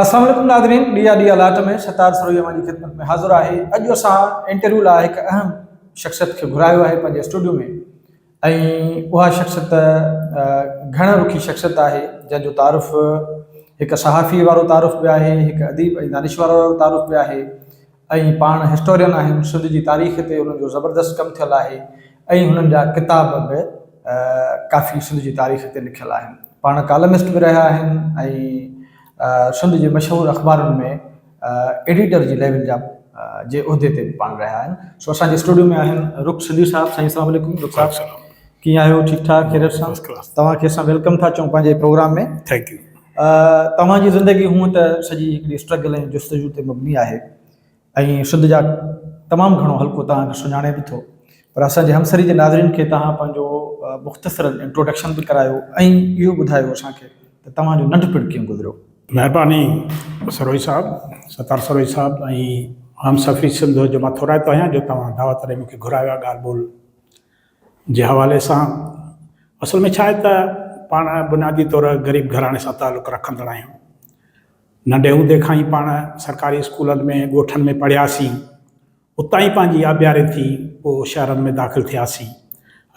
السلام عليڪم ناظرين ڏي آ ڏي آ لاٽ ۾ ستار سروهي اوهان جي خدمت ۾ حاضر آهي اڄ اسان انٽرويو لاء هڪ اهم شخصيت کي گهرايو آهي پنهنجي اسٽوڊيو ۾ ۽ اها شخصيت گهڻ رخي شخصيت آهي جنهن جو تعارف هڪ صحافي وارو تعارف به آهي هڪ اديب ۽ دانش وارو تعارف به آهي اهي پاڻ هسٽورين آهن، سنڌ جي تاريخ تي انهن جو زبردست ڪم ٿيل آهي ۽ هنن جا ڪتاب به ڪافي سنڌ جي تاريخ تي لکيل آهن. پاڻ ڪالمسٽ به رهيا آهن ۽ سنڌ جي مشهور اخبارن ۾ ايڊيٽر جي ليول جا جي عهدي تي به پاڻ رهيا آهن. سو اسان جي اسٽوڊيو ۾ آهن رخ سنڌي صاحب. سائين اسلام عليڪم رخ صاحب. ڪيئن آهيو ٺيڪ ٺاڪ خيريت سان First class. توهان کي اسان ويلڪم ٿا چئون پنهنجي پروگرام ۾ ٿينڪ يو آ، توهان جي زندگي هونء ته سڄي هڪڙي اسٽرگل ۽ جستجو تي مبني آهي ۽ سنڌ جا تمام گهڻو حلقو توهان کي سڃاڻي به ٿو پر اسان جي همسري جي ناظرين کي توهان پنهنجو مختصرا انٽروڊڪشن به ڪرايو ۽ اهو ٻڌايو اسان کي ته توهان جو ننڍپڻ ڪيئن گذريو مهرباني سروهي صاحب ستار سروهي صاحب ۽ همصفي سنڌ جو مان ٿورائتو آهيان جو توهان دعوت ڏئي مونکي گهرايو آهي ڳالهه ٻولهه جي حوالي سان اصل ۾ ڇا آهي ته پاڻ بنيادي طور غريب گهراڻي سان تعلق رکندڙ آهيون. ننڍي هوندي کان ئي پاڻ سرڪاري اسڪولن ۾ ڳوٺن ۾ پڙهياسين. اتان ئي پنهنجي آبياري ٿي پوء شهرن ۾ داخل ٿياسين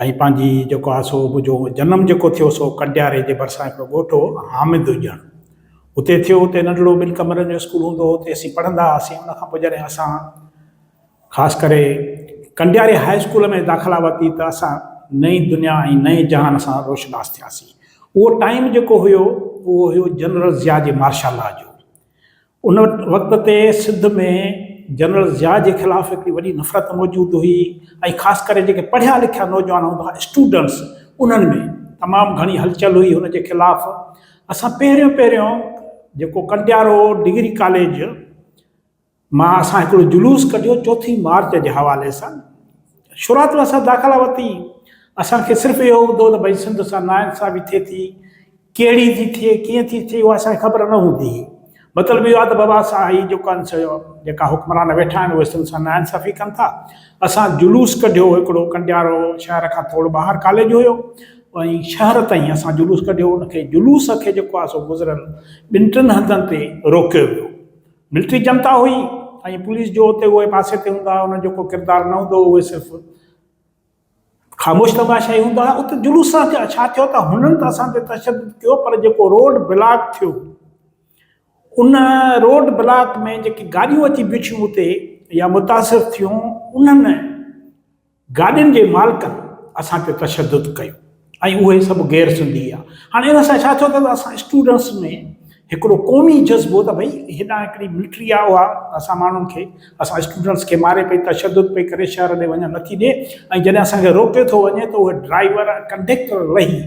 ۽ پنهنجي جيڪو آهي سو منهنجو جنم جيڪو ٿيو سو ڪنڊياري جي ڀرسان هڪڙو ڳوٺ هو حامد ڄڻ اتي ٿيو اتي ننڍڙو ٻن ڪمرن جو اسڪول هوندو هو اتي اسين پڙهندا هئاسين ان کان پوء جڏهن اسان خاص ڪري ڪنڊياري هاء اسڪول ۾ داخلا ورتي ته اسان نئين دنيا ۽ نئين جهان سان روشناس ٿياسين. اهو ٽائيم جيڪو هيو اهو هيو جنرل ضياء جي مارشل لا جو. ان وقت تي سنڌ ۾ جنرل ضياء جي خلاف هڪڙي وڏي نفرت موجود هئي ۽ خاص ڪري جيڪي پڙهيا لکيا نوجوان هوندا هئا اسٽوڊنٽس انهن ۾ تمام گهڻي هلچل هئي هن جي خلاف اسان پهريون پهريون جيڪو ڪنڊيارو ڊگري ڪاليج مان اسان هڪڙو جلوس ڪڍيو چوٿين مارچ جي حوالي سان شروعات ۾ اسان داخلا ورتي اسان کي صرف اهو هوندو ته ڀئي سنڌ سان نا انصافي ٿئي ٿي ڪهڙي ٿي ٿئي ڪيئن ٿي ٿئي اها اسان کي خبر نه هوندي هئي مطلب اهو آهي ته بابا اسان هي جيڪا جيڪا حڪمران ويٺا آهن اهي سنڌ سان نا انصافي ڪن ٿا اسان جلوس ڪڍيو هڪڙو ڪنڊيارو شهر کان ٿورو ٻاهر ڪاليج هيو ۽ شهر تائين اسان جلوس ڪڍيو ان کي جلوس کي جيڪو آهي سو گذريل ٻن ٽن هنڌن تي روڪيو ويو ملٽري جنتا هئي ۽ پوليس جو اتي اهي پاسي تي هوندا هئا، انهن جو ڪو ڪردار نه هوندو هو، اهي صرف خاموش تماشائي هوندا هئا. اتي جلوس سان ڇا ٿيو ته هنن ته اسان تي تشدد ڪيو پر جيڪو روڊ بلاڪ ٿيو، ان روڊ بلاڪ ۾ جيڪي گاڏيون اچي بيٺيون اتي يا متاثر ٿيون، انهن گاڏين جي مالڪن اسان تي تشدد ڪيو ۽ اهي سڀ غير سنڌي آ هاڻي ان سان ڇا ٿيو ته اسان اسٽوڊنس ۾ هڪڙو قومي جذبو ته ڀئي هيڏانهن هڪڙي ملٽري آ اها اسان ماڻهن کي اسان اسٽوڊنس کي ماري پئي تشدد پئي ڪري شهر ڏي وڃڻ نٿي ڏي ۽ جڏهن اسان کي روڪي ٿو وڃي ته اهي ڊرائيور ۽ ڪنڊيڪٽر لهي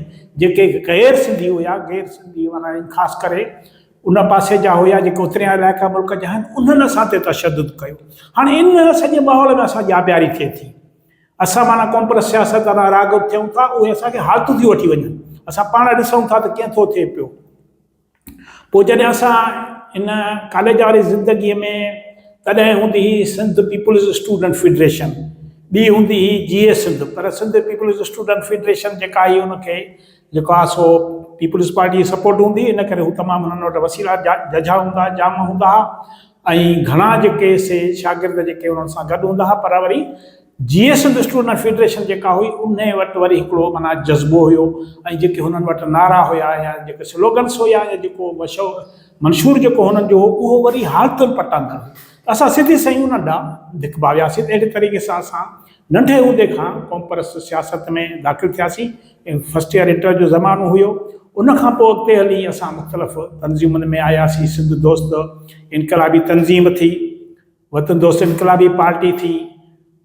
جيڪي غير سنڌي هيا غير سنڌي معنيٰ خاص ڪري ان پاسي جا هيا جيڪي اتريان علائقا ملڪ جا آهن انهن اسان تي تشدد ڪيو هاڻي ان سڄي ماحول ۾ اسان ڄاٻياري ٿئي ٿي اسان معنيٰ ڪونپرس سياست وارا راغب ٿيون ٿا اهي اسان کي حالتون ٿي وٺي وڃن اسان پاڻ ڏسون ٿا ته ڪئين ٿو ٿئي پيو پوء جڏهن اسان ان ڪاليج واري زندگي ۾ تڏهن هوندي هئي سنڌ پيپلز اسٽوڊنٽ فيڊريشن ٻي هوندي هئي جي اي سنڌ پر سنڌ پيپلز اسٽوڊنٽ فيڊريشن جيڪا آهي ان کي جيڪو آهي سو پيپلز پارٽي جي سپورٽ هوندي ان ڪري هو تمام هنن وٽ وسيلا ججها هوندا ها جام هوندا ها ۽ گهڻا جيڪي سي شاگرد جيڪي انهن سان گڏ هوندا ها پر وري Jeay Sindh student federation جيڪا هئي انهي وٽ وري هڪڙو معنيٰ جذبو هيو ۽ جيڪي هنن وٽ نعرا هيا يا جيڪي سلوگنس هيا يا جيڪو مشو منشور جيڪو هنن جو هو اهو وري حالتن پٽاندڙ هو اسان سڌي سئي انهن ڏانهن ڌڪ ڀاوياسين اهڙي طريقي سان اسان ننڍي هوندي کان قومپرست سياست ۾ داخل ٿياسين. فرسٽ ييئر انٽر جو زمانو هيو. ان کان پوء اڳتي هلي اسان مختلف تنظيمن ۾ آياسين، سنڌ دوست انقلابي تنظيم ٿي، وطن دوست انقلابي پارٽي ٿي،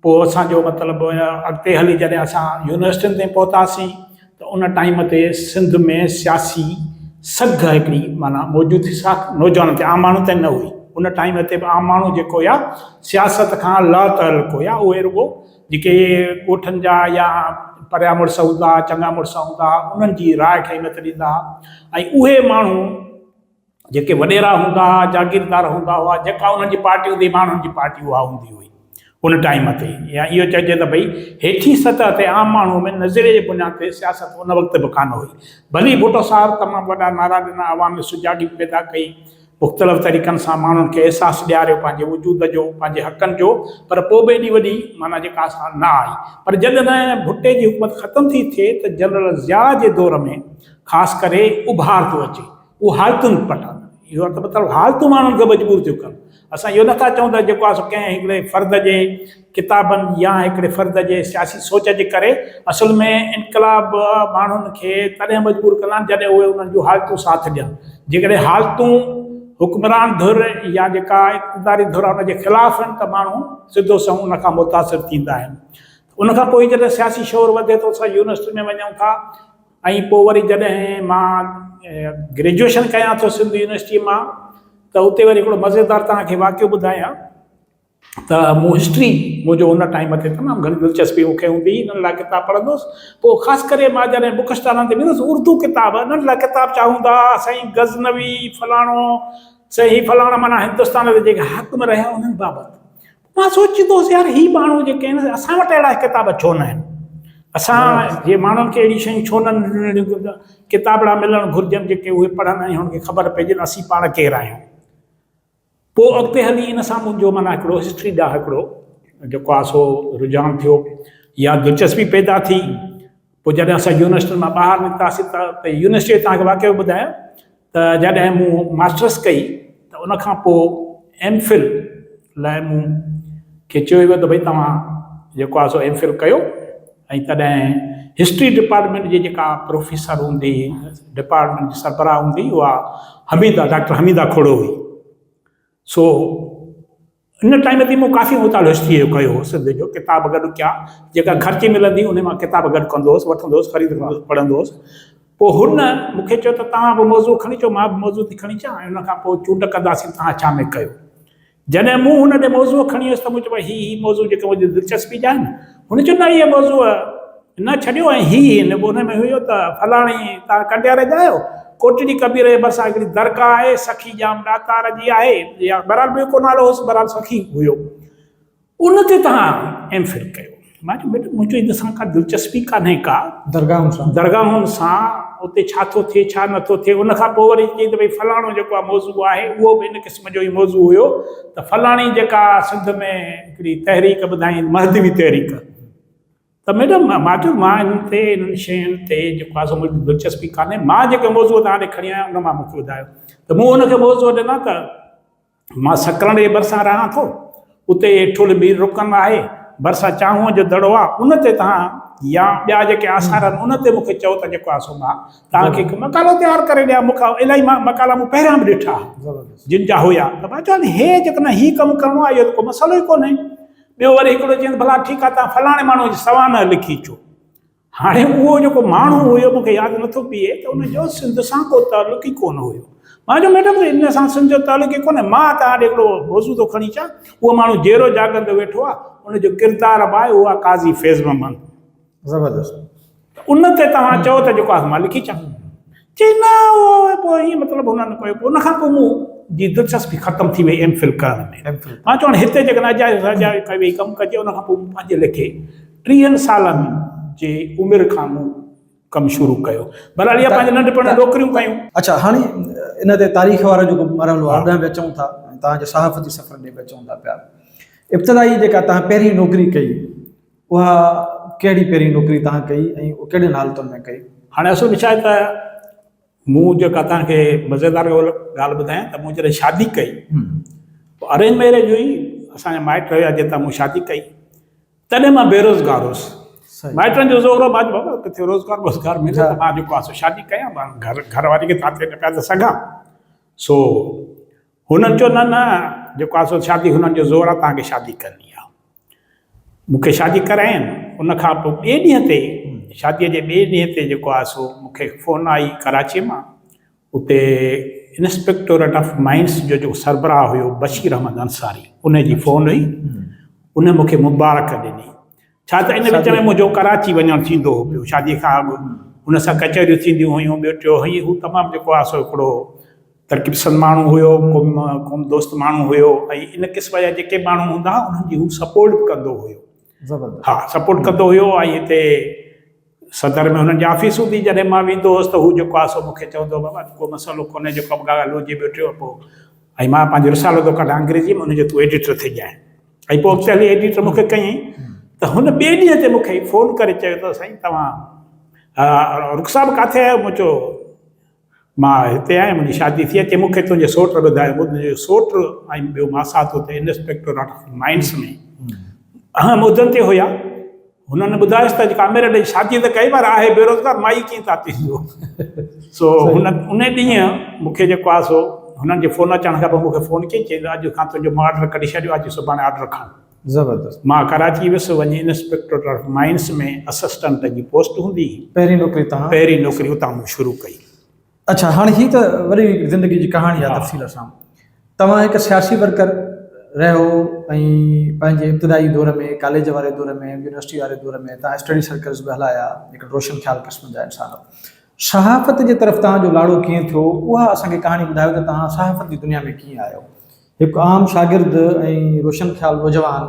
پوء اسان جو مطلب اڳتي هلي جڏهن اسان يونيورسٽين تائين پهتاسين، ته ان ٽائيم تي سنڌ ۾ سياسي سگهه هڪڙي معنيٰ موجود هئي سا نوجوانن تي عام ماڻهن تي نه هئي. ان ٽائيم تي به عام ماڻهو جيڪو هيا سياست کان لاتعلق هيا اهي رڳو جيڪي ڳوٺن جا يا پريا مڙس هوندا چڱا مڙس هوندا انهن جي راء کي اهميت ڏيندا هئا ۽ اهي ماڻهو جيڪي وڏيرا هوندا ها، جاگيردار هوندا هئا، جيڪا انهن جي پارٽي هوندي هئي، ماڻهن جي پارٽي اها هوندي هئي ان ٽائيم تي يا اهو چئجي ته ڀئي هيٺين سطح تي عام ماڻهوء ۾ نظريي جي بنياد تي سياست ان وقت به ڪانه هئي. ڀلي ڀٽو صاحب تمام وڏا نعرا ڏنا، عوام ۾ سجاڳي پيدا ڪئي، مختلف طريقن سان ماڻهن کي احساس ڏياريو پنهنجي وجود جو، پنهنجي حقن جو پر پوء به ايڏي وڏي معنيٰ جي ڪا ساڻ نه آئي پر جڏھن ڀٽي جي حڪومت ختم ٿي ٿئي ته جنرل ضياء جي دور ۾ خاص ڪري اڀار ٿو اچي. اهو حالتن پٽ آهن. اهو ته مطلب حالتون ماڻهن کي مجبور ٿيون ڪن. اسان اهو نٿا چئون ته جيڪو آهي ڪنهن هڪڙي فرد جي ڪتابن يا هڪڙي فرد جي سياسي سوچ جي ڪري اصل ۾ انقلاب ماڻهن کي تڏهن مجبور ڪندا آهن جڏهن اهي انهن جون حالتون ساٿ ڏين. جيڪڏهن حالتون حڪمران ڌر يا جيڪا اقتداري ڌر آهي ان جي خلاف آهن ته ماڻهو سڌو سنئون ان کان متاثر ٿيندا آهن. ان کان پوء جڏهن سياسي شعور وڌي ٿو اسان يونيورسٽين ۾ وڃون ٿا. ۽ پوء وري جڏهن مان گريجوئيشن ڪيان ٿو سنڌ يونيورسٽيء مان ته اتي وري هڪڙو مزيدار توهان کي واقعو ٻڌايان ته مون هسٽري منهنجو ان ٽائيم تي تمام گهڻي دلچسپي مون کي هوندي هئي ننڍڙا ڪتاب پڙهندو هوس پوء خاص ڪري مان جڏهن بوڪ اسٽالن تي ويندس اردو ڪتاب ننڍڙا ڪتاب ڇا هوندا ها سائين غزنوي فلاڻو سائين هي فلاڻا معنيٰ هندستان جي جيڪي حاڪم رهيا انهن بابت مان سوچيندو هوس يار هي ماڻهو جيڪي آهن اسان وٽ اهڙا ڪتاب ڇو نه آهن اسان جي ماڻهن کي اهڙي شيون ڇو نه ننڍڙيون ڪتابڙا ملڻ گهرجن جيڪي اهي پڙهن ۽ هنن کي خبر پئجي ته اسين پاڻ ڪير آهيون پوء اڳتي هلي ان سان منهنجو معنيٰ هڪڙو هسٽري ڏانهن هڪڙو جيڪو آهي سو رجحان ٿيو يا دلچسپي پيدا ٿي پوء جڏهن اسان يونيورسٽين مان ٻاهر نڪتاسين ته اتي يونيورسٽيء تان هڪ واقعو ٻڌايم ته جڏهن مون ماسٽرس ڪئي ته ان کان پوء ايم فل لاء مون کي چيو ويو ته ڀئي توهان جيڪو آهي سو ايم فل ڪيو ۽ تڏهن هسٽري ڊپارٽمينٽ جي جيڪا پروفيسر هوندي ڊپارٽمينٽ جي سربراهه هوندي اها حميده ڊاڪٽر حميده کهڙو هئي سو ان ٽائيم تي مون ڪافي مطالعو هسٽريء جو ڪيو هو، سنڌ جو ڪتاب گڏ ڪيا، جيڪا گهر تي ملندي هئي، انهيء مان ڪتاب گڏ ڪندو هوس، وٺندو هوس، خريد ڪندو هوس، پڙهندو هوس. پوء هن مون کي چيو ته توهان به موضوع کڻي اچو، مان به موضوع ٿي کڻي اچان ۽ ان کان پوء چونڊ ڪنداسين ته توهان ڇا ۾ ڪيو. جڏهن مون هن ڏي موضوع کڻي ويس ته مون چيو، ڀاء هي هي موضوع جيڪي منهنجي دلچسپي جا آهن. هن چيو، نه اهي موضوع نه ڇڏيو ۽ هي هن ڳوٺ ۾ هيو ته فلاڻي تان ڪنڊياري جا آهيو؟ ڪوٽڙي قبيلي جي ڀرسان هڪڙي درگاهه آهي، سخي ڄام ڏاتار جي آهي يا بهرحال ٻيو ڪو نالو هوس، بهرحال سخي هيو، ان تي توهان ايم فل ڪيو؟ مان چيو بيٽ منهنجو ان سان ڪا دلچسپي ڪانهي ڪا، درگاهن سان، درگاهن سان اتي ڇا ٿو ٿئي ڇا نه ٿو ٿئي، ان کان پوء وري چيائين ته ڀئي فلاڻو جيڪو آهي موضوع آهي اهو به ان قسم جو ئي موضوع هيو ته فلاڻي جيڪا سنڌ ۾ هڪڙي تحريڪ ٻڌائين مهدوي تحريڪ، ته ميڊم مان چيو مان انهن تي انهن شين تي جيڪو آهي سو منهنجي دلچسپي ڪانهي مان جيڪي موضوع توهان ڏي کڻي آيو آهيان ان مان مون کي ٻڌايو ته مون هن کي موضوع ڏنا ته مان سڪرنڊ جي ڀرسان رهان ٿو اتي ٺل مير رڪن آهي ڀرسان چانهونء جو دڙو آهي ان تي توهان يا ٻيا جيڪي آثار آهن ان تي مون کي چئو ته جيڪو آهي سو مان توهان کي هڪ مقالو تيار ڪري ڏيان مون کي الائي مان مقالا مون پهريان به ڏٺا جن جا هيا ته مان چيو هي جيڪڏهن هي ڪم ڪرڻو آهي اهو ته ڪو مسئلو ئي ڪونهي ٻيو وري هڪڙو چيائين ته ڀلا ٺيڪ آهي توهان فلاڻي ماڻهوء جي سوانح لکي اچو. هاڻي اهو جيڪو ماڻهو هيو مون کي ياد نه ٿو پيئي ته ان جو سنڌ سان ڪو تعلق ئي ڪونه هيو. مان چيو ميڊم ان سان سنڌ جو تعلق ئي ڪونه. مان توهان ڏي هڪڙو موضوع ٿو کڻي اچان. اهو ماڻهو جيئرو جاڳندو ويٺو آهي. ان جو ڪردار به آهي اهو آهي قاضي فيض محمد. زبردست ته ان تي توهان چئو ته جيڪو آهي مان لکي اچان چي نه اهو پوء ائين مطلب هن نه ڪيو ان کان پوء مون جي دلچسپي ختم ٿي وئي ايم فل ڪرڻ ۾ ايم فل مان چيو هتي جيڪڏهن اجائي سجائي ڪئي وئي ڪم ڪجي ان کان پوء مون پنهنجي ليکي ٽيهن سالن جي عمر کان مون ڪم شروع ڪيو بهرحال اها پنهنجي ننڍپڻ نوڪريون ڪيون اڇا هاڻي ان تي تاريخ وارو جيڪو مرحلو آهي ڏانهن به اچون ٿا ۽ توهان جي صحافتي سفر ڏي به اچون ٿا پيا ابتدائي جيڪا توهان پهرين نوڪري ڪئي اها ڪهڙي پهرين نوڪري توهان ڪئي ۽ ڪهڙين حالتن ۾ ڪئي؟ هاڻي اصل ۾ ڇاهي ته مون جيڪا توهان کي مزيدار ڳالهه ٻڌايان ته مون جڏهن شادي ڪئي پوء ارينج ميريج هئي اسان جا مائٽ هيا جن تان مون شادي ڪئي تڏهن مان بيروزگار هوس مائٽن جو زور هو مان چيو بابا ڪٿي روزگار ووزگار ملي ته مان جيڪو آهي سو شادي ڪيان مان گهر گهر واري کي ٿاٿي نه پيا ته سگهان سو هن چيو، نه نه، جيڪو آهي سو شادي هنن جو زور آهي، توهان کي شادي ڪرڻي آهي. مون کي شادي ڪراين، ان کان پوء ٻئي ڏينهن تي، شاديء جي ٻئي ڏينهن تي جيڪو آهي سو مون کي فون آئي ڪراچيء مان، اتي انسپيڪٽوريٽ آف مائنز جو جيڪو سربراهه هيو بشير احمد انصاري، ان جي فون هئي، ان مون کي مبارڪ ڏني ڇا ته ان وچ ۾ منهنجو ڪراچي وڃڻ ٿيندو هو پيو. شاديء کان اڳ هن سان ڪچهريون ٿينديون هيون. ٻيو ٽيو هيء هو تمام جيڪو آهي سو هڪڙو ترقي پسند ماڻهو هيو، قوم قوم دوست ماڻهو هيو ۽ ان قسم جا جيڪي ماڻهو هوندا ها انهن جي هو سپورٽ به ڪندو هيو. زبردست. ها سپورٽ ڪندو هيو ۽ هتي. صدر ۾ هنن جي آفيسون به جڏهن مان ويندو هوس ته هو جيڪو آهي سو مون کي چوندو هو بابا ڪو مسئلو ڪونهي جيڪو به ڳالهه هجي ويٺي هو پوء ۽ مان پنهنجو رسالو ٿو ڪڍان انگريزيء ۾ ان جو تون ايڊيٽر ٿي ڄائين ۽ پوء اڳتي هلي ايڊيٽر مون کي ڪيائين ته هن ٻئي ڏينهن تي مون کي فون ڪري چيو ته سائين توهان رخ صاحب ڪاٿي آهيو مون چيو مان هتي آهيان، منهنجي شادي ٿي آهي، چي مون کي تنهنجي سوٽ ٻڌايو، ٻڌ جو سوٽ ۽ ٻيو ماسات اتي انسپيڪٽوريٽ آف مائنس ۾ اهم عهدن تي هيا، هنن ٻڌايس ته اڄ ڪاميريڊ جي شادي ته ڪئي پر آهي بيروزگار، مائي ڪيئن ٿا تي جو سو هن ان ڏينهن مون کي جيڪو آهي سو هنن جي فون اچڻ کان پوء مون کي فون ڪيائين، چيائين ته اڄ کان تنهنجو مان آرڊر ڪڍي ڇڏيو آهي، اچ سڀاڻي آرڊر کڻ. زبردست. مان ڪراچي ويس وڃي انسپيڪٽوريٽ آف مائنس ۾ اسسٽنٽ جي پوسٽ هوندي هئي. پهرين نوڪري تان. پهرين نوڪري اتان مون شروع ڪئي. اڇا هاڻي هي ته وڏي زندگي جي ڪهاڻي آهي تفصيل سان توهان هڪ سياسي ورڪر رهيو ۽ پنهنجي ابتدائي دور ۾ ڪاليج واري دور ۾ يونيورسٽي واري دور ۾ توهان اسٽڊي سرڪلز به هلايا هڪڙي روشن خيال قسم جا انسان صحافت جي طرف توهان جو لاڙو ڪيئن ٿيو اها اسان کي ڪهاڻي ٻڌايو ته توهان صحافت جي دنيا ۾ ڪيئن آيو. هڪ عام شاگرد ۽ روشن خيال نوجوان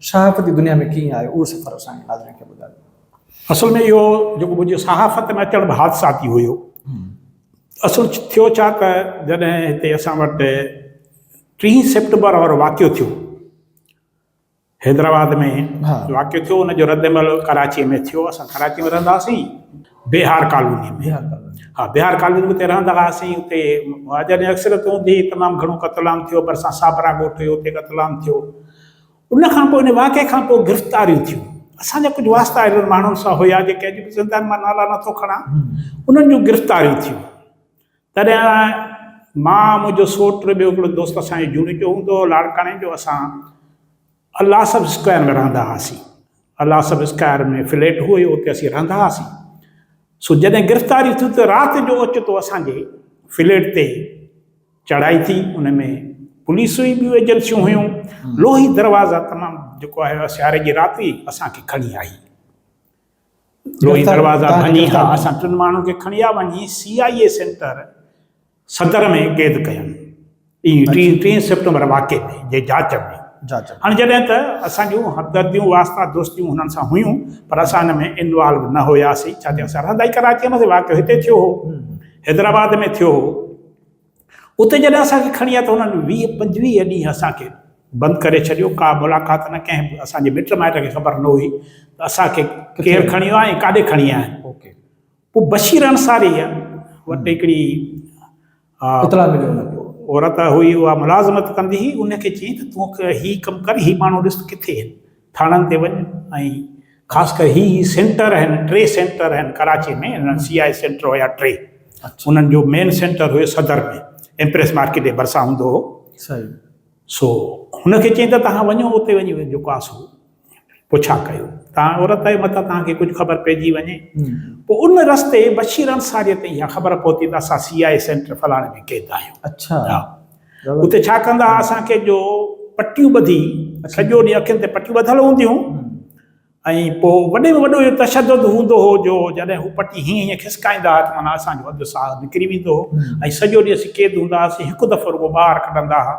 صحافت جي دنيا ۾ ڪيئن آيو اهو سفر اسان جي ناظرين کي ٻڌايو. اصل ۾ اهو جيڪو منهنجي صحافت ۾ اچڻ به حادثاتي هيو. اصل ٿيو ڇا ته جڏهن هتي اسان وٽ ٽيهين سيپٽمبر وارو واقعو ٿيو. حيدرآباد ۾ واقعو ٿيو ان جو رد عمل ڪراچيء ۾ ٿيو اسان ڪراچيء ۾ رهندا هئاسين بهار ڪالونيء ۾ ها بهار ڪالونيء ۾ اتي رهندا هئاسين اتي مهاجر اڪثريت هوندي هئي تمام گهڻو قتل عام ٿيو ڀرسان صابرا ڳوٺ هيو اتي قتل عام ٿيو ان کان پوء ان واقعي کان پوء گرفتاريون ٿيون اسان جا ڪجهه واسطا اهڙن ماڻهن سان هيا جيڪي اڄ به زنده آهن مان نالا نٿو کڻان انهن جون گرفتاريون ٿيون تڏهن مان، منهنجو سوٽ، ٻيو هڪڙو دوست اسان جي جوڻيجو هوندو هو لاڙڪاڻي جو، اسان الاصف اسڪوائر ۾ رهندا هئاسين. الاصف اسڪوائر ۾ فليٽ هئي، اتي اسين رهندا هئاسين. سو جڏهن گرفتاري ٿي ته رات جو اوچتو اسان جي فليٽ تي چڙهائي ٿي، ان ۾ پوليس هئي، ٻيون ايجنسيون هيون، لوهي دروازا تمام جيڪو آهي سياري جي رات هئي، اسان کي کڻي آئي. لوهي دروازا ڀڃي ها اسان ٽن ماڻهن کي کڻي ها وڃي سي آء اي سينٽر صدر ۾ قيد ڪيائون ٽين ٽين سيپٽمبر واقعي ۾ جي جاچ ۾ هاڻي جڏهن ته اسان جون همدرديون واسطا دوستيون هنن سان هيون پر اسان ان ۾ انوالو نه هياسين ڇا ٿي اسان رهندا ئي ڪراچي ۾ هئاسين واقعو هتي ٿيو هو حيدرآباد ۾ ٿيو هو. اتي جڏهن اسان کي کڻي آيا ته هنن ويهه پنجويهه ڏينهن اسان کي بند ڪري ڇڏيو، ڪا ملاقات نه، ڪنهن به اسان جي مٽ مائٽ کي خبر نه هئي ته اسان کي ڪير کڻي ويو آهي ۽ ڪاڏي کڻي آيا آهن. پوء بشير انصاريء وٽ هڪڙي اطلاع ملي ان کي. عورت هئي اها ملازمت ڪندي هئي، ان کي چيائين ته تون هي ڪم ڪر، هي ماڻهو ڏس ته ڪٿي آهن. ٿاڻن تي وڃ ۽ خاص ڪري هي هي سينٽر آهن ٽي سينٽر آهن ڪراچي ۾ هن سي آء سينٽر هيا ٽي انهن جو مين سينٽر هيو صدر ۾ امپريس مارڪيٽ جي ڀرسان هوندو هو سو هن کي چئين ته توهان وڃو اتي وڃي جيڪو آهي سو پڇا ڪيو توهان عورت آهيو متان توهان کي ڪجهه خبر پئجي وڃي پوء ان رستي بشير انصاري تي اها خبر پهتي ته اسان سي آء سينٽر فلاڻي ۾ قيد آهيون اڇا اتي ڇا ڪندا ھئا اسان کي جو پٽيون ٻڌي سڄو ڏينھن اکين تي پٽيون ٻڌل ھونديون ۽ پوء وڏي ۾ وڏو اھو تشدد ھوندو ھو جو جڏھن ھو پٽي ھيئن ھيئن کسڪائيندا ھئا ته معنيٰ اسان جو اڌ ساھ نڪري ويندو ھو ۽ سڄو ڏينھن اسين قيد ھوندا ھئاسين ھڪ دفعو رڳو ٻاھر ڪڍندا ھئا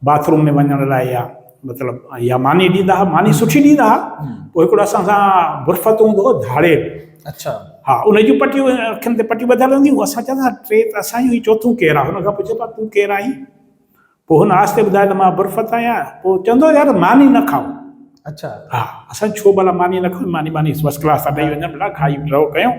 باٿ روم ۾ وڃڻ لاء يا مطلب يا ماني ڏيندا ها ماني سٺي ڏيندا ها پوء هڪڙو اسان سان برفت هوندو هو ڌاڙي اچھا ها ان جون پٽيون اکين تي پٽيون ٻڌل هوندي هو اسان چوندا ٽي ته اسان جو هي چوٿون ڪير آهي هن کان پڇيو پا تون ڪير آهين پوء هن آهستي ٻڌايو ته مان برفت آهيان پوء چوندو يار ماني نه کائو اچھا ها اسان ڇو ڀلا ماني نه کائون ماني ماني فرسٽ ڪلاس ٿا ڏيئي وڃن ڀلا کائي رهو ڪيون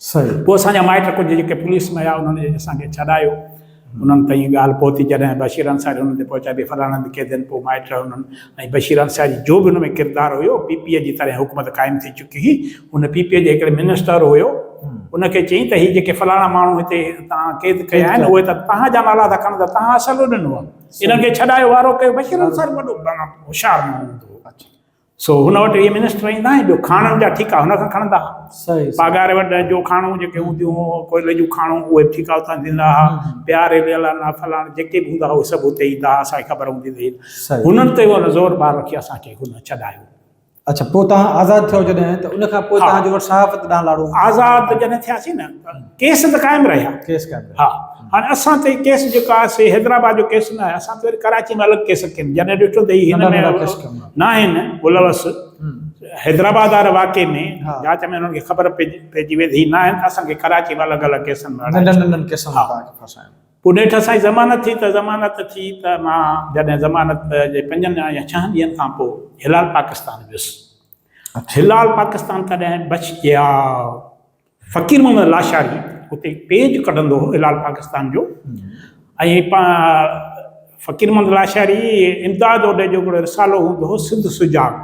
صحيح. پوء اسان جا مائٽ ڪجهه جيڪي پوليس ۾ هيا انهن اسان کي ڇڏايو. انهن تائين ڳالهه پهتي جڏهن بشير انصاري انهن تي پهچائي ڀي فلاڻن به قيدين پوء مائٽ انهن ۽ بشير انصاري جو به ان ۾ ڪردار هيو پي پي اي جي تڏهن حڪومت قائم ٿي چڪي هئي ان پي پي اي جي هڪڙي منسٽر هيو ان کي چيائين ته هي جيڪي فلاڻا ماڻهو هتي توهان قيد ڪيا آهن اهي ته توهان جا نالا ٿا کڻن ته توهان اصل ڏنو آهي انهن کي ڇڏايو وارو ڪيو بشير انصاري وڏو هوشيار ماڻهو هوندو هو سو هن وٽ اهي منسٽر ايندا ۽ ٻيو کاڻن جا ٺيڪا هن کان کڻندا ها. صحيح صحيح. پاڳاري وٽ جو کاڻون جيڪي هونديون هو ڪوئلي جون کاڻون اهي به ٺيڪا اتان ڏيندا ها. همم. پيا ريليالا نا فلاڻ جيڪي به هوندا هئا اهي سڀ اتي ايندا ها اسان کي خبر هوندي هئي. صحيح. هنن تي هن زور ٻار رکي اسان کي هن ڇڏايو. اڇا پوء توهان آزاد ٿيو جڏهن ته ان کان پوء ها. توهان جو وٽ صحافت ڏانهن لاڙو. آزاد جڏهن ٿياسين نه ته ڪيس ته قائم رهيا. ڪيس قائم رهيا. ها. هاڻي اسان تي ڪيس جيڪا آهي سي حيدرآباد جو ڪيس ناهي اسان تي وري ڪراچي ۾ الڳ ڪيس ڪين جڏهن ڏٺو ته هي هن ۾ ناهن ملوث حيدرآباد واري واقعي ۾ جاچ ۾ انهن کي خبر پئجي وئي ته هي ناهن ته اسان کي ڪراچي ۾ الڳ الڳ ڪيسن ۾ اڙائي ننڍن ننڍن ڪيسن ۾ پاڻ کي ڦاسايو پوء نيٺ اسان جي ضمانت ٿي ته ضمانت ٿي ته مان جڏهن ضمانت جي پنجن يا ڇهن ڏينهن کان پوء هلال پاڪستان ويس هلال پاڪستان تڏهن بچ جيا فقير محمد لاشاري اتي پيج ڪڍندو هو هلال پاڪستان جو ۽ فقير محمد لاشاري امداد اوڏي جو هڪڙو رسالو هوندو هو سنڌ سجاڳ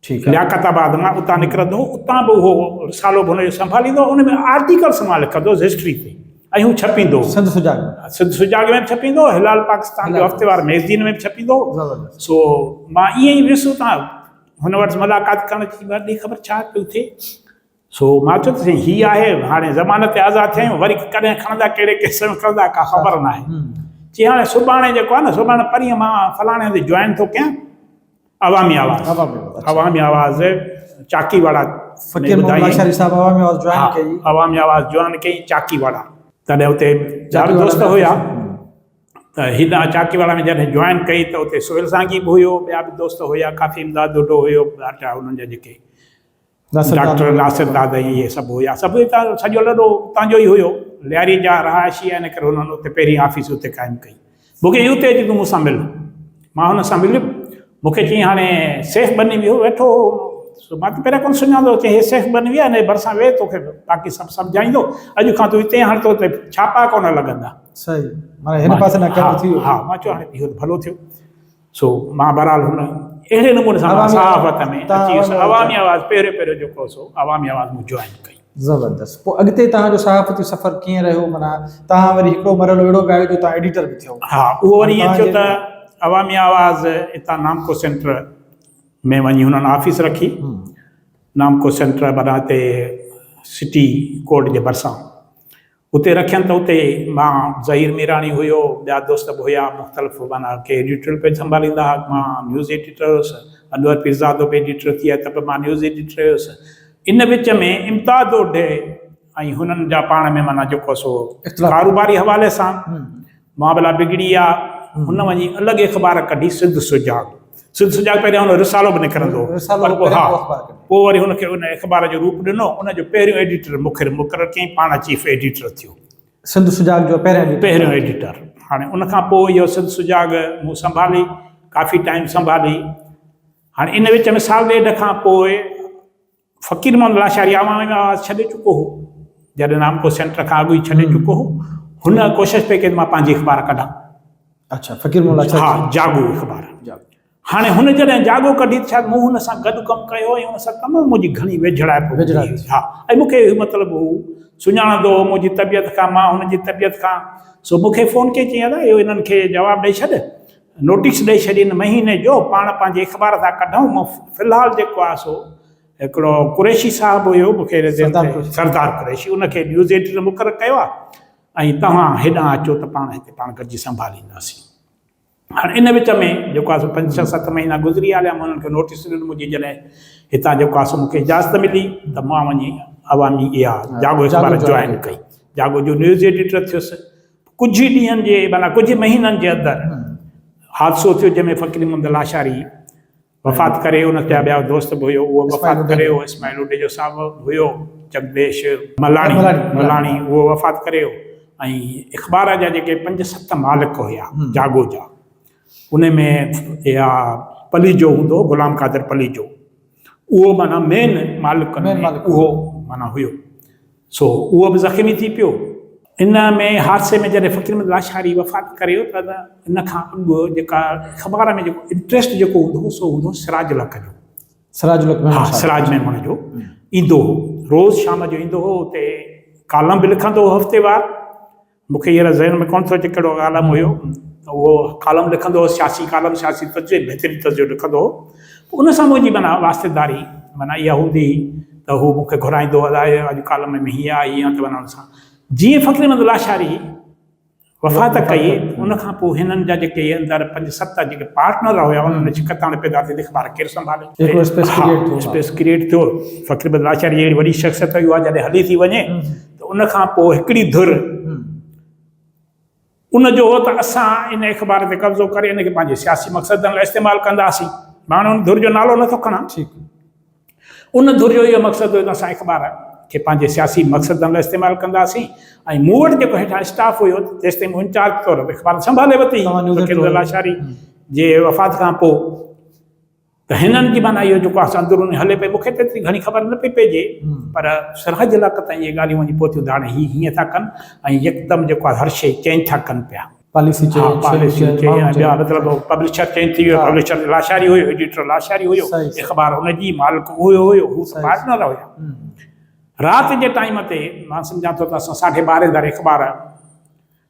ٺيڪ لياقت آباد مان اتان نڪرندو هو اتان به اهو رسالو به هن جو سنڀاليندو ان ۾ آرٽيڪلس مان لکندو هوس هسٽري تي ۽ هو ڇپيندو هو سنڌ سجاڳ سنڌ سجاڳ ۾ به ڇپيندو هو هلال پاڪستان جو هفتي وار ميگزين ۾ به ڇپيندو هو سو مان ائين ئي ويس اتان هن وٽس ملاقات ڪرڻ جي ٻي خبر ڇا پيو ٿئي سو مان چيو ته سائين هي آهي هاڻي ضمانت تي آزاد ٿيا آهيون وري ڪڏهن کڻندا ڪهڙي ڪيس ۾ کڻندا ڪا خبر ناهي چي هاڻي سڀاڻي جيڪو آهي نه سڀاڻي پرينء مان فلاڻي هنڌ جوائن ٿو ڪيان عوامي آواز عوامي آواز چاڪي واڙا فقير محمد لاشاري صاحب عوامي آواز جوائن ڪئي عوامي آواز جوائن ڪئي چاڪي واڙا تڏهن اتي چار دوست هيا ته هيڏانهن چاڪي واڙا ۾ جڏهن جوائن ڪئي ته اتي سهيل سانگي به هيو ٻيا به دوست هيا ڪافي امداد ڊوڊو هيو ٻيا ٽيا هنن جا جيڪي ڊاڪٽر ناصر دادئي اهي سڀ هيا. سڀ هتان جو سڄو لڏو اتان جو ئي هيو. لياري جا رهائشي هيا ان ڪري هنن اتي پهرين آفيس اتي قائم ڪئي. مون کي چيو اتي اچ تون مون سان مل. مان هن سان مليم. مون کي چيائين هاڻي سيف بني ويهو ويٺو هو. سو مان ته پهريان ڪونه سڃاتو هوس. چيائين هي سيف بني ويهه هن جي ڀرسان ويهه توکي باقي سڀ سمجهائيندو. اڄ کان تون هتي هاڻ تو تي ڇاپا ڪونه لڳندا. صحيح معنيٰ هن پاسي ڏانهن ڪم ٿي ويو. ها ها مان چيو هاڻي اهو ته ڀلو ٿيو. سو مان بھرحال ھن اھڙي نموني سان مان صحافت ۾ اچي ويس عوامي آواز پھريون پھريون جيڪو ھو سو عوامي آواز مون جوائن ڪئي. زبردست پوء اڳتي توھان جو صحافتي سفر ڪيئن رھيو معنيٰ توھان وري ھڪڙو مرحلو اھڙو بي آيو جو توھان ايڊيٽر به ٿيو. ھا اھو وري ائين ٿيو ته عوامي آواز اتان نامڪو سينٽر ۾ وڃي ھنن آفيس رکي نامڪو سينٽر معنيٰ ھتي سٽي ڪورٽ جي ڀرسان اتي رکين ته اتي مان ظهير ميراڻي هيو ٻيا دوست به هيا مختلف معنيٰ ڪي ايڊيٽوريل پيج سنڀاليندا هئا مان نيوز ايڊيٽر هيس انور پيرزادو به ايڊيٽر ٿي آهي ته به مان نيوز ايڊيٽر هيس ان وچ ۾ امتاز اوڍي ۽ هنن جا پاڻ ۾ معنيٰ جيڪو سو ڪاروباري حوالي سان مان بلا بگڙي آ، هن وڃي الڳ اخبار ڪڍي سنڌ سجاڳ، سنڌ سجاڳ پهريان هن جو رسالو به نڪرندو هو، رسالو پر پوء پهريان ها، پوء اخبار ڪڍي. پوء وري هن کي ان اخبار جو روپ ڏنو، ان جو پهريون ايڊيٽر مخر مقرر ڪيائين، پاڻ چيف ايڊيٽر ٿيو. سنڌ سجاڳ جو پهريان ايڊيٽر. پهريون ايڊيٽر. هاڻي ان کان پوء اهو سنڌ سجاڳ مون سنڀالي، ڪافي ٽائيم سنڀالي. هاڻي ان وچ ۾ سال ڏيڍ کان پوء. فقير محمد لاشاري عوامي آواز ڇڏي چڪو هو، جڏهن نامڪو سينٽر کان اڳ ئي ڇڏي چڪو هو، هن ڪوشش پئي ڪئي ته مان پنهنجي اخبار ڪڍان. اڇا فقير محمد لاشاري ها جي. جاڳو اخبار. جاڳو. هاڻي هن جڏهن جاڳو ڪڍي ته شايد مون هن سان گڏ ڪم ڪيو هو ۽ هن سان تمام منهنجي گهڻي ويجهڙائپ هوندي ويجهڙائپ هئي. ٿي. ها ۽ مون کي هي مطلب هو سڃاڻندو هو منهنجي طبيعت کان مان هن جي طبيعت کان سو مون کي فون ڪئي چيائين ادا اهو هنن کي جواب ڏئي ڇڏ نوٽيس ڏئي ڇڏين مهيني جو پاڻ پنهنجي اخبار تان ڪڍئون مون في الحال جيڪو آهي سو هڪڙو قريشي صاحب هيو مون کي سردار قريشي ان کي نيوز ايڊيٽر مقرر ڪيو آهي ۽ توهان هيڏانهن اچو ته پاڻ هتي پاڻ گڏجي سنڀالينداسين هاڻي ان وچ ۾ جيڪو آهي سو پنج ڇهه ست مهينا گذري هليا مون انهن کي نوٽيس ڏنو منهنجي جڏهن هتان جيڪو آهي سو مون کي اجازت ملي ته مان وڃي عوامي اها جاڳو اخبار جوائن ڪئي جاڳو جو نيوز ايڊيٽر ٿيس ڪجهه ئي ڏينهن جي معنيٰ ڪجهه ئي مهينن جي اندر حادثو ٿيو جنهن ۾ فقير محمد لاشاري وفات ڪري ويو، ان جا ٻيا دوست به هيو اهو به وفات ڪري ويو، اسماعيل اوڏيجو صاحب به هيو، جڳديش ملاڻي ملاڻي اهو وفات ڪري ويو ۽ اخبار جا جيڪي پنج ست مالڪ هيا جاڳو جا ان ۾ اها پليجو هوندو هو غلام قادر پليجو اهو معنيٰ مين مالڪن ۾ اهو معنيٰ هيو. سو اهو به زخمي ٿي پيو. ان ۾ حادثي ۾ جڏهن فقير احمد لاشاري وفات ڪريو ته ان کان اڳ جيڪا اخبار ۾ جيڪو انٽريسٽ جيڪو هوندو هو سو هوندو هو سراج الحق جو. سراج الحق ميمڻ صاحب. ها سراج ميمڻ جو ايندو هو. روز شام جو ايندو هو اتي ڪالم به لکندو هو هفتيوار مون کي هينئر ذهن ۾ ڪونه ٿو اچي ڪهڙو ڪالم هيو ته اهو ڪالم لکندو هو سياسي ڪالم سياسي تجزئي بهترين تجزئو لکندو هو پوء ان سان منهنجي معنيٰ واسطيداري معنيٰ اها هوندي هئي ته هو مون کي گهرائيندو هو الاء اڄ ڪالم ۾ هيئن آهي هيئن آهي ته معنيٰ ان سان جيئن فقيرمحمد لاشاري وفات ڪئي ان کان پوء هنن جا جيڪي اندر پنج ست جيڪي پارٽنر هيا انهن ۾ شڪست هاڻي پيدا ٿي ته اخبار ڪير سنڀالي هڪڙو اسپيس ڪريئيٽ ٿيو اسپيس ڪريئيٽ ٿيو فقيرمحمد لاشاري جهڙي وڏي شخصيت هئي اها جڏهن هلي ٿي وڃي ته ان کان پوء هڪڙي ڌر ان جو هو ته اسان ان اخبار تي قبضو ڪري ان کي پنهنجي سياسي مقصدن لاء استعمال ڪنداسين. مان هاڻي ان ڌر جو نالو نٿو کڻان. ان ڌر جو اهو مقصد هيو ته اسان اخبار کي پنهنجي سياسي مقصدن لاء استعمال ڪنداسين ۽ مون وٽ جيڪو هيٺان اسٽاف هيو جيستائين مون انچارج طور اخبار سنڀالي ورتي، فقير الله لاشاري جي وفات کان پوء، ته هنن جي معنيٰ اهو جيڪو آسان اندروني هلي پئي، مون کي ته ايتري گهڻي خبر نه پئي پئجي، پر سراج علاقي تائين اهي ڳالهيون وڃي پهتيون ته هاڻي هي هيئن ٿا ڪن ۽ يڪدم جيڪو آهي هر شيء چينج ٿا ڪن پيا. پاليسي چينج، ها پاليسي چينج ۽ ٻيا مطلب پبلشر چينج ٿي ويو، پبلشر لاشاري هيو، ايڊيٽر لاشاري هيو، اخبار ان جي، مالڪ اهو هيو، هو ته پارٽنر هيا. رات جي ٽائيم تي مان سمجهان ٿو ته اسان ساڍي ٻارهين ڌاري اخبار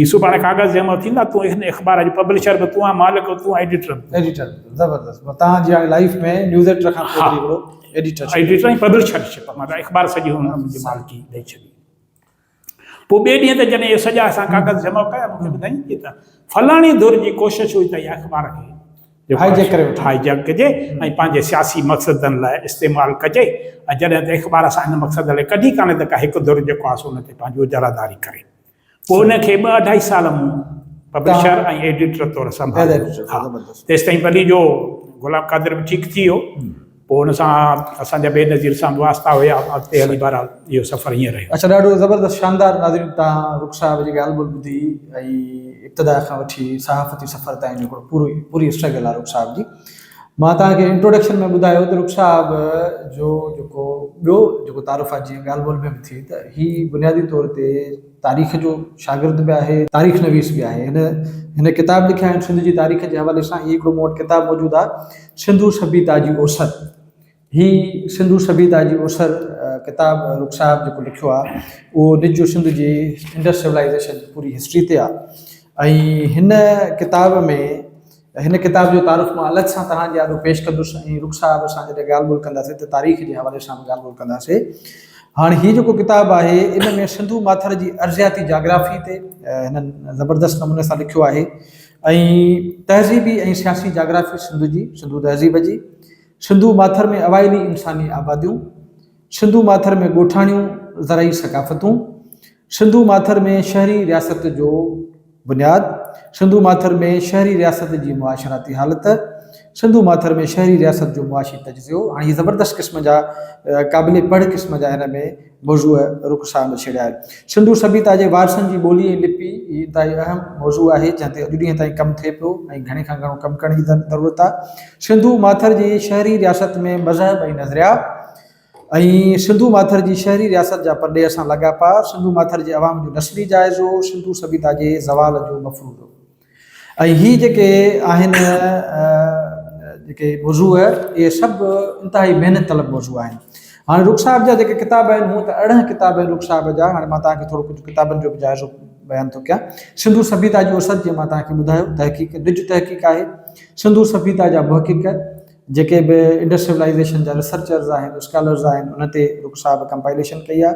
يوسف هاڻي ڪاغذ جي امر ٿيندا تون هن اخبار جو پبلشر به تون آهين مالڪ به تون آهين ايڊيٽر به تون ايڊيٽر زبردست مطلب تان جي هاڻي لائيف ۾ نيوز ايڊيٽر کان پوء هڪڙو ايڊيٽر ايڊيٽر ۽ پبلشر شپ مطلب اخبار سڄي هن منهنجي مالڪي ڏئي ڇڏي پوء ٻئي ڏينهن تي جڏهن سڄا اسان ڪاغذ جمع ڪيا مونکي ٻڌائين ته فلاڻي ڌر جي ڪوشش هئي ته اهي اخبار کي هاء جيڪ ڪري وٺي هاء جيڪ ڪجي ۽ پنهنجي سياسي مقصدن لاء استعمال ڪجي ۽ جڏهن ته اخبار اسان هن مقصد لاء ڪڍي ڪانه ته ڪا هڪ ڌر جيڪو آهي سو ان تي پنهنجي اجاراداري ڪري پوء ان کي ٻه اڍائي سال مون پبلشر ۽ ايڊيٽر طور سنڀاليو. تيستائين ولي جو گلاب قادر به ٺيڪ ٿي ويو. پوء ان سان اسان جا بينظير سان به واسطا هيا. اڳتي هلي بهرحال اهو سفر هيئن رهيو. اڇا ڏاڍو زبردست شاندار ناظرين تان رخ صاحب جي ڳالهه ٻولهه ٻڌي ۽ ابتدا کان وٺي صحافتي سفر تائين جو هڪڙو پورو پوري اسٽرگل آهي رخ صاحب جي. مان توهان کي انٽروڊڪشن ۾ ٻڌايو ته رخ صاحب جو جيڪو ٻيو جيڪو تعارف آهي جيئن ڳالهه ٻولهه ۾ به ٿي ته هي بنيادي طور تي تاريخ جو شاگرد به آهي تاريخ نويس به آهي هن هن ڪتاب لکيا آهن سنڌ جي تاريخ جي حوالي سان هي هڪڙو مون وٽ ڪتاب موجود آهي سنڌو سڀيتا جي اوسر هي سنڌو سڀيتا جي اسر ڪتاب رخ صاحب جيڪو لکيو آهي اهو نجو سنڌ جي انڊس سولائيزيشن جي پوري هسٽري تي آهي ۽ هن ڪتاب ۾ هن ڪتاب جو تعارف مان الڳ سان توهان جي آڏو پيش ڪندس ۽ رخ صاحب سان جڏهن ڳالهه ٻولهه ڪنداسين ته تاريخ جي حوالي سان به ڳالهه ٻولهه ڪنداسين هاڻي هي جيڪو ڪتاب آهي ان ۾ سنڌو ماٿر جي ارضياتي جاگرافي تي هنن زبردست نموني سان لکيو آهي ۽ تهذيبي ۽ سياسي جاگرافي سنڌ جي سنڌو تهذيب جي سنڌو ماٿر ۾ اوائلي انساني آباديون، سنڌو ماٿر ۾ ڳوٺاڻيون زرعي ثقافتون، سنڌو ماٿر ۾ شهري رياست جو بنياد، سنڌو ماٿر ۾ شهري رياست جي معاشراتي حالت، سنڌو ماٿر ۾ شهري رياست جو معاشي تجزيو، هاڻي هي زبردست قسم جا قابل پڙهه قسم جا هن ۾ موضوع رخ سان ڇيڙيا آهن. سنڌو سڀيتا جي وارثن جي ٻولي ۽ لپي هي انتهائي اهم موضوع آهي، جنهن تي اڄ ڏينهن تائين ڪم ٿئي پيو ۽ گهڻي کان گهڻو ڪم ڪرڻ جي ضرورت آهي. سنڌو ماٿر جي شهري رياست ۾ مذهب ۽ نظريا ۽ سنڌو ماٿر جي شهري رياست جا پرڏيهه سان لاڳاپا، سنڌو ماٿر جي عوام جو نسلي جائزو، سنڌو سڀيتا جي زوال جو مفروضو. ۽ هي جيڪي آهن جيڪي موضوع اهي سڀ انتهائي محنت طلب موضوع آهن. هاڻي رخ صاحب جا جيڪي ڪتاب آهن هونء ته ارڙهن ڪتاب آهن رخ صاحب جا هاڻي مان توهان کي ٿورو ڪجهه ڪتابن جو به جائزو بيان ٿو ڪيان. سنڌو سڀيتا جي اوسر جيئن مان توهان کي ٻڌايو تحقيق نج تحقيق آهي. سنڌو سڀيتا جا محقق جيڪي به انڊس سولائيزيشن جا ريسرچرز آهن اسڪالرز آهن انهن تي رخ صاحب ڪمپائليشن ڪئي آهي.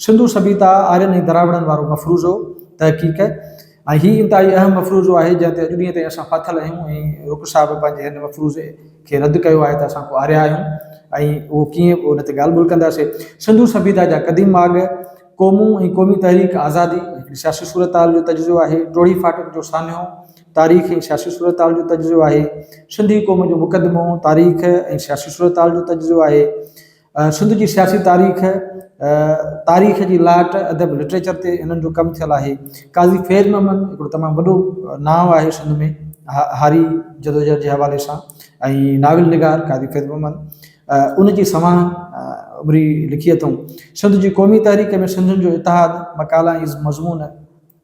سنڌو سڀيتا آرين ۽ دراوڙن وارو مفروضو تحقيق. ۽ هي انتهائي اهم مفروضو آهي جنهن تي اڄ ڏينهن تائين اسان ڦاٿل آهيون ۽ رڪ صاحب پنهنجي هن مفروضي کي رد ڪيو آهي ته اسان ڪو آريا آهيون ۽ اهو ڪيئن ان تي ڳالهه ٻولهه ڪنداسي. سنڌو سڀيتا جا قديم ماڳ، قومون ۽ قومي تحريڪ آزادي هڪڙي سياسي صورتحال جو تجزيو آهي، ٽوڙهي ڦاٽڪ جو سانحو تاريخ ۽ سياسي صورتحال جو تجزيو آهي، سنڌي قوم جو مقدمو تاريخ ۽ سياسي صورتحال جو تجزيو آهي، سنڌ جي سياسي تاريخ، تاريخ جي لاٽ، ادب لٽريچر تي هنن جو ڪم ٿيل آهي. قاضي فيض محمد هڪڙو تمام وڏو نانء آهي سنڌ ۾ هاري جدوجهد جي حوالي سان ۽ ناول نگار قاضي فيض محمد ان جي سوانح عمري لکي اٿئون. سنڌ جي قومي تحريڪ ۾ سنڌين جو اتحاد، مقالا ۽ مضمون،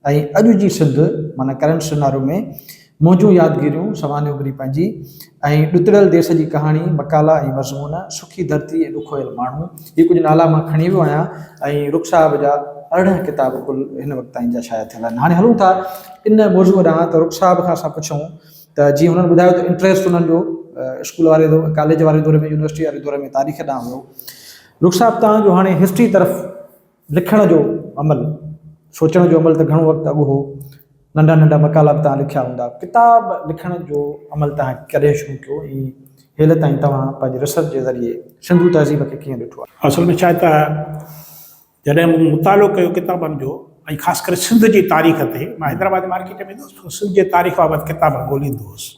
۽ اڄ جي سنڌ معنيٰ ڪرنٽ سينارو ۾ منهنجون يادگيريون سوانح عمري پنهنجي ۽ ڏتڙيل ديس جي ڪهاڻي، مقالا ۽ مضمون، سکي ڌرتي ۽ ڏکويل ماڻهو، هي ڪجهه نالا مان کڻي ويو آهيان ۽ رخ صاحب جا ارڙهن ڪتاب ڪل هن وقت تائين جا شايع ٿيل آهن. هاڻي هلون ٿا ان موضوع ڏانهن ته رخ صاحب کان اسان پڇون ته جيئن هنن ٻڌايو ته انٽريسٽ هنن جو اسڪول واري دور ڪاليج واري دور ۾ يونيورسٽي واري دور ۾ تاريخ ڏانهن هيو رخ صاحب توهان جو هاڻي هسٽري طرف لکڻ جو عمل، سوچڻ جو عمل ته گهڻو وقت اڳ هو، ننڍا ننڍا مقالا به توهان لکيا هوندا، ڪتاب لکڻ جو عمل توهان ڪڏهن شروع ڪيو ۽ هيل تائين توهان پنهنجي ريسرچ جي ذريعي سنڌو تهذيب کي ڪيئن ڏٺو آهي؟ اصل ۾ ڇا ته جڏهن مون مطالعو ڪيو ڪتابن جو ۽ خاص ڪري سنڌ جي تاريخ تي، مان حيدرآباد مارڪيٽ ۾ ويندو هوس، سنڌ جي تاريخ بابت ڪتاب ڳوليندو هوس.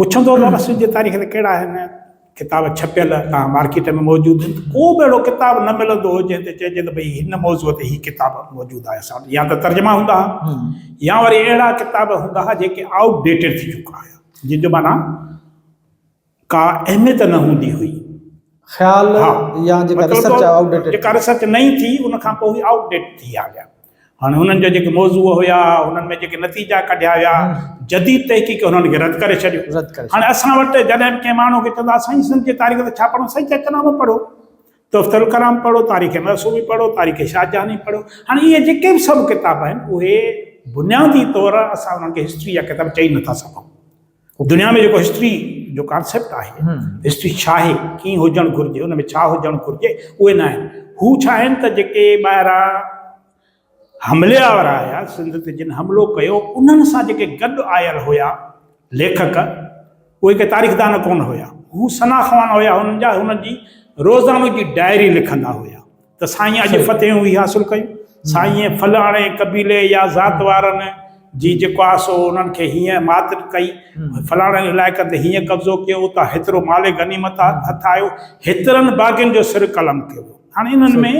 پڇندو ته اسد جي تاريخ تي ڪهڙا اهم ڪتاب ڇپيل توهان مارڪيٽ ۾ موجود آهن ته ڪو به اهڙو ڪتاب نه ملندو هو جنهن تي چئجي ته ڀئي هن موضوع تي هي ڪتاب موجود آهي اسان وٽ يا ته ترجما هوندا ها يا وري اهڙا ڪتاب هوندا ها جيڪي آئوٽ ڊيٽيڊ ٿي چڪا هيا جن جو معنيٰ ڪا اهميت نه هوندي هئي خيال يا جيڪا ريسرچ آئوٽ ڊيٽيڊ ٿي جيڪا ريسرچ نئين ٿي ان کان پوء هي آئوٽ ڊيٽ ٿي آ ويا. هاڻي هنن جا جيڪي موضوع هيا، هنن ۾ جيڪي نتيجا ڪڍيا ويا، جديد تحقيق انهن کي رد ڪري ڇڏيو. رد ڪري هاڻي ڇڏيو. اسان وٽ جڏهن به ڪنهن ماڻهو کي چوندا سائين سنڌ جي تاريخ تي ڇا پڙهون؟ سائين چوي نامو پڙهو، تحفته الڪرام پڙهو، تاريخ معصومي پڙهو، تاريخ شاهه جهاني پڙهو. هاڻي اهي جيڪي به سڀ ڪتاب آهن، اهي بنيادي طور اسان انهن کي هسٽري جا ڪتاب چئي نٿا سگهون. دنيا ۾ جيڪو هسٽري جو ڪانسيپٽ آهي، هسٽري ڇا آهي، ڪيئن هجڻ گهرجي، ان ۾ ڇا هجڻ گهرجي، اهي نه آهن. هو ڇا آهن ته جيڪي ٻاهران حملي آور آيا، سنڌ تي جن حملو ڪيو، انهن سان جيڪي گڏ آيل هيا ليکڪ، اهي ڪي تاريخدان ڪونه هيا. هو سنا خوان هيا، هنن جا هنن جي روزانو جي ڊائري لکندا هيا. ته سائين اڄ فتحيون هي حاصل ڪيون سائين فلاڻي قبيلي يا ذات وارن جي جيڪو آ سو انهن کي هيئن مات ڪئي فلاڻن علائقن تي هيئن قبضو ڪيو اتان هيترو مال غنيمت هٿ آيو هيترن باغين جو سر قلم ٿيو هاڻي انهن ۾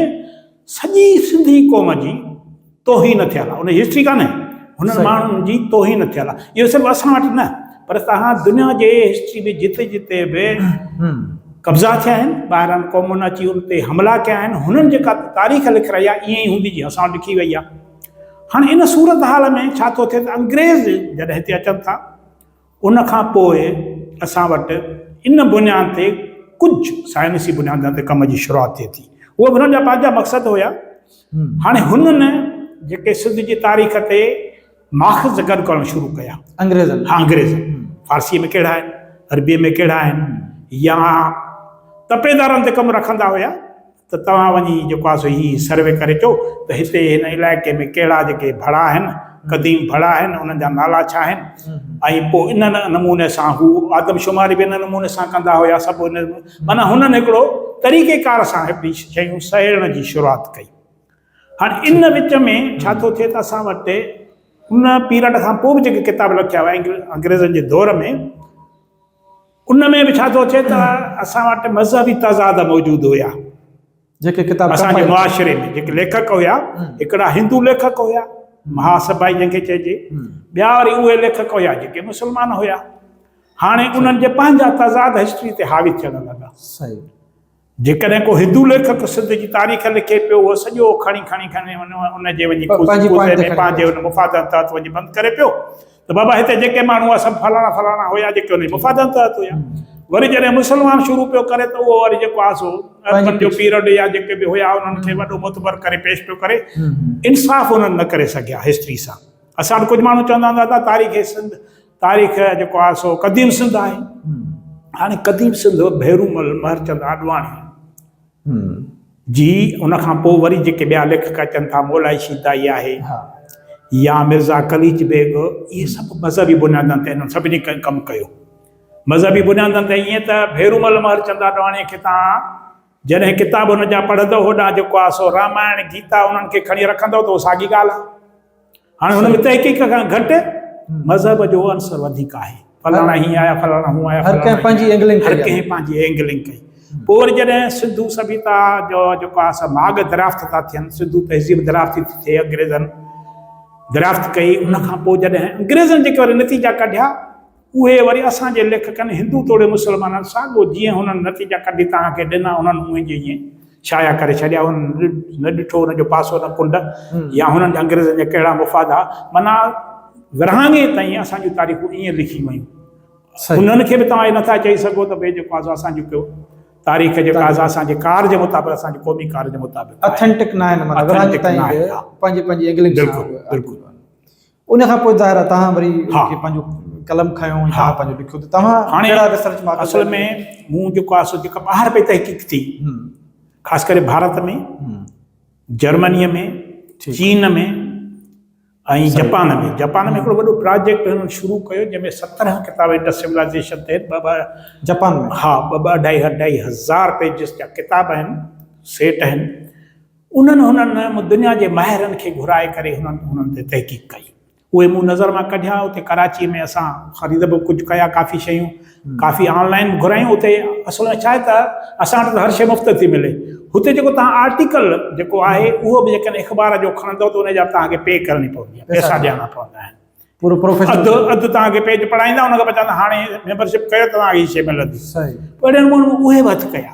سڄي سنڌي قوم جي توهين ٿيل آهي ان جي هسٽري ڪانهي هنن صحيح. ماڻهن جي توهين ٿيل آهي اهو صرف اسان وٽ نه پر توهان دنيا جي هسٽري ۾ جتي جتي به هم. قبضا ٿيا آهن ٻاهران قومن اچي ان تي حملا ڪيا آهن هنن جيڪا تاريخ لکرائي آهي ائين ئي هوندي جيئن اسان وٽ لکي وئي آهي هاڻي ان صورتحال ۾ ڇا ٿو ٿئي ته انگريز جڏهن هتي اچن ٿا ان کان پوء اسان وٽ ان بنياد تي ڪجهه سائنسي بنيادن تي ڪم جي شروعات ٿئي ٿي. اهي به هنن جا پنهنجا مقصد هيا. هاڻي هنن جيڪي سنڌ جي تاريخ تي ماخذ گڏ ڪرڻ شروع ڪيا. انگريزن. ها انگريز. فارسيء ۾ ڪهڙا آهن، عربيء ۾ ڪهڙا آهن يا تپيدارن تي ڪم رکندا هيا، ته توهان وڃي جيڪو آهي سو هي سروي ڪري اچو ته هتي هن علائقي ۾ ڪهڙا جيڪي ڀڙا آهن، قديم ڀڙا آهن، انهن جا نالا ڇا آهن ۽ پوء ان نموني سان هو آدمشماري به ان نموني سان ڪندا هيا سڀ ان معنيٰ هنن هڪڙو طريقي ڪار سان هڪڙي شيون سهيڙڻ جي شروعات ڪئي. هاڻي ان وچ ۾ ڇا ٿو ٿئي ته اسان وٽ ان پيرڊ کان پوء به جيڪي ڪتاب لکيا ويا انگريزن جي دور ۾، ان ۾ به ڇا ٿو اچي ته اسان وٽ مذهبي تضاد موجود هيا جيڪي ڪتاب اسان جي معاشري ۾ جيڪي ليکڪ هيا هڪڙا هندو ليکڪ هيا مها سڀائي جنهن کي چئجي ٻيا وري اهي ليکڪ هيا جيڪي مسلمان هيا هاڻي انهن جي پنهنجا تضاد هسٽري تي حاوي ٿيڻ لڳا جيڪڏهن ڪو هندو ليکڪ سنڌ جي تاريخ لکي پيو، اهو سڄو کڻي کڻي کڻي ان ان جي وڃي پ پنهنجي پوئتي پوائنٽ تي ۾ کڻي پنهنجي ان مفادن تحت وڃي بند ڪري پيو ته بابا هتي جيڪي ماڻهو هئا سڀ فلاڻا فلاڻا هيا جيڪي ان جي مفادن تحت هيا. وري جڏهن مسلمان شروع پيو ڪري ته اهو وري جيڪو آهي سو پنهنجي اربن جو پيڇ. پيرڊ يا جيڪي به هيا انهن کي وڏو معتبر ڪري پيش پيو ڪري. انصاف انهن نه ڪري سگهيا هسٽري سان. اسان وٽ ڪجهه ماڻهو چوندا هوندا دادا تاريخ سنڌ تاريخ جيڪو آهي سو قديم سنڌ آهي هاڻي قديم سنڌ ڀيرومل مهرچند آڏواڻي جي ان کان پوء وري جيڪي ٻيا ليکڪ اچن ٿا مولائي شيدائي آهي يا مرزا قليچ بيگ اهي سڀ مذهبي بنيادن تي هنن سڀني ڪم ڪيو مذهبي بنيادن تي ائين ته ڀيرومل مهرچند آڏواڻي کي تان جڏهن ڪتاب هن جا پڙهندو هو ڏانهن جيڪو آهي سو رامائڻ، گيتا انهن کي کڻي رکندو ته اهو ساڳي ڳالهه آهي. هاڻي هن ۾ تحقيق کان گهٽ مذهب جو عنصر وڌيڪ آهي. فلاڻا هيئن آيا، فلاڻا هون آيا، هر ڪنهن پنهنجي اينگلنگ ڪئي. هر ڪنهن پنهنجي اينگلنگ ڪئي. پوء وري جڏهن سنڌو سڀيتا جو جيڪو آهي سا ماڳ دريافت ٿا ٿين، سنڌو تهذيب دريافت ٿي ٿئي، انگريزن دريافت ڪئي، ان کان پوء جڏهن انگريزن جيڪي وري نتيجا ڪڍيا، اهي وري اسان جي ليکڪن هندو توڙي مسلمانن ساڳو جيئن هنن نتيجا ڪڍي توهان کي ڏنا انهن اونهي جو ايئن شايع ڪري ڇڏيا هنن نه ڏٺو ان جو پاسو نه ڪنڊ يا هنن جا انگريزن جا ڪهڙا مفاد ها معنيٰ ورهاڱي تائين اسان جون تاريخون ايئن لکيون ويون انهن کي به توهان اهي نٿا چئي سگهو ته ڀي جيڪو آزو اسان جون ڪيو تاريخ جيڪا آزو اسان جي ڪار جي مطابق اسان جي قومي ڪار جي مطابق آهي اٿينٽڪ ناهن معنيٰ ورهاڱي تائين به پنهنجي پنهنجي اينگلنگ سان بلڪل بلڪل ان کان پوء ظاهر آهي توهان وري پنهنجو قلم کنيو ۽ پنهنجو لکيو ته توهان ڪهڙا ريسرچ ماڪ اصل ۾ مون جيڪو آهي سو جيڪا ٻاهر پئي تحقيق ٿي خاص ڪري ڀارت ۾ جرمنيء ۾ چين ۾ ۽ جپان ۾ جپان ۾ هڪڙو وڏو پراجيڪٽ هنن شروع ڪيو جنهن ۾ سترهن ڪتاب انڊس سولائزيشن تحت ٻه ٻه جپان ۾ ها ٻه ٻه اڍائي اڍائي هزار پيجز جا ڪتاب آهن سيٽ آهن انهن هنن مون دنيا جي ماهرن کي گهرائي ڪري هنن هنن تي تحقيق ڪئي. اهي مون نظر مان ڪڍيا اتي ڪراچي ۾ اسان خريد به ڪجهه ڪيا ڪافي شيون ڪافي آن لائين به گهرايون اتي اصل ۾ ڇا آهي ته اسان وٽ ته هر شيء مفت ٿي ملي هتي جيڪو توهان آرٽيڪل جيڪو آهي اهو به جيڪڏهن اخبار جو کڻندو ته ان جا به توهان کي پي ڪرڻي پوندي آهي پيسا ڏيڻا پوندا آهن پورو پروفيشنل اڌ اڌ توهان کي پيج پڙهائيندا ان کان پوء چوندا هاڻي ميمبرشپ ڪيو ته توهان کي هي شيء ملندي اهڙي نموني مون اهي به هٿ ڪيا.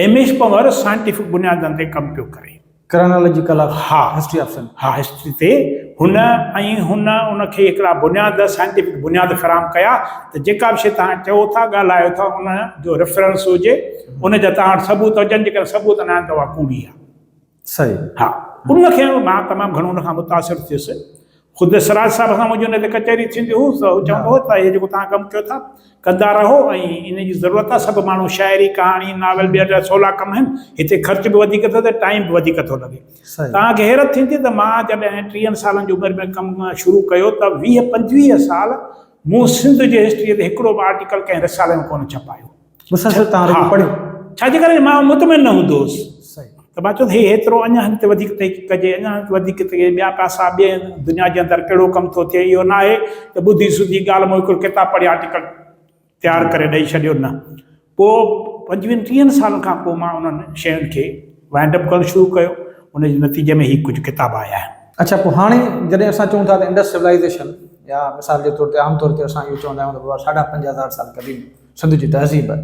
ايم ايس پنور سائنٽيفڪ بنيادن تي ڪم پيو ڪري. Chronological of history of Sindh. ها هسٽري تي هن ۽ هن ان کي هڪڙا بنياد سائنٽيفڪ بنياد فراهم ڪيا ته جيڪا به شي توهان چئو ٿا ڳالهايو ٿا ان جو ريفرنس هجي ان جا توهان وٽ ثبوت هجن جيڪڏهن ثبوت نه آهن ته اها ڪوڙي آهي. صحيح. ها ان کي مان تمام گهڻو ان کان متاثر ٿيس خود سراج صاحب سان منهنجي ان تي ڪچهري ٿيندي هو ته هو چوندو هو ته هي جيڪو توهان ڪم ڪيو ٿا ڪندا رهو ۽ ان جي ضرورت آهي سڀ ماڻهو شاعري ڪهاڻي ناول ٻيا ٻيا سولا ڪم آهن هتي خرچ به وڌيڪ ٿو ٿئي ٽائيم به وڌيڪ ٿو لڳي صحيح. توهان کي حيرت ٿيندي ته مان جڏهن ٽيهن سالن جي عمر ۾ ڪم شروع ڪيو ته ويهه پنجويهه سال مون سنڌ جي هسٽريء تي هڪڙو به آرٽيڪل ڪنهن رسالي ۾ ڪونه ڇپايو مسلسل تان رڳو پڙهيو ڇا جي ڪري مان مطمئن نه هوندو هوس صحيح ته مان چوندو هي هيترو اڃا هن تي وڌيڪ تحقيق ڪجي اڃا هن تي وڌيڪ تي ٻيا پاسا ٻي دنيا جي اندر ڪهڙو ڪم ٿو ٿئي اهو ناهي ته ٻڌي سڌي ڳالهه مون هڪڙو ڪتاب پڙهي آرٽيڪل تيار ڪري ڏئي ڇڏيو نه پوء پنجويهن ٽيهن سالن کان پوء مان انهن شين کي وائنڊ اپ ڪرڻ شروع ڪيو ان جي نتيجي ۾ هي ڪجهه ڪتاب آيا آهن اڇا پوء هاڻي جڏهن اسان چون ٿا ته انڊس سولائيزيشن يا مثال جي طور تي عام طور تي اسان اهو چوندا آهيون ته بابا ساڍا پنج هزار سال قديم سنڌ جي تهذيب ته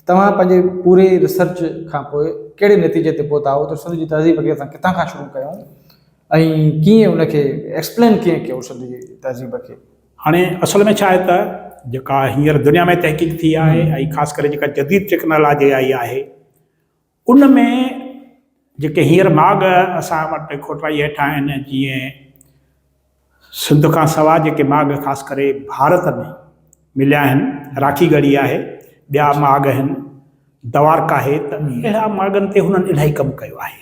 توهان پنهنجي پوري ريسرچ کان پوء ڪهڙي نتيجي تي پهتا آهو ته سنڌ جي تهذيب کي اسان ڪٿان کان شروع ڪيون ۽ ڪيئن ان کي ايڪسپلين ڪيئن ڪيو سنڌ جي تهذيب کي هاڻي اصل ۾ ڇا آهي ته جيڪا هينئر دنيا ۾ تحقيق ٿي آهي ۽ خاص ڪري جيڪا جديد ٽيڪنالاجي آئي آهي ان ۾ جيڪي هينئر ماڳ اسان وٽ کوٽرائي هيٺ آهن، جيئن سنڌ کان سواء جيڪي ماڳ خاص ڪري ڀارت ۾ مليا آهن، راکي ڳڙهي آهي، ٻيا ماڳ آهن، دوارڪا آهي ته اهڙا ماڳن تي هنن الاهي ڪم ڪيو آهي.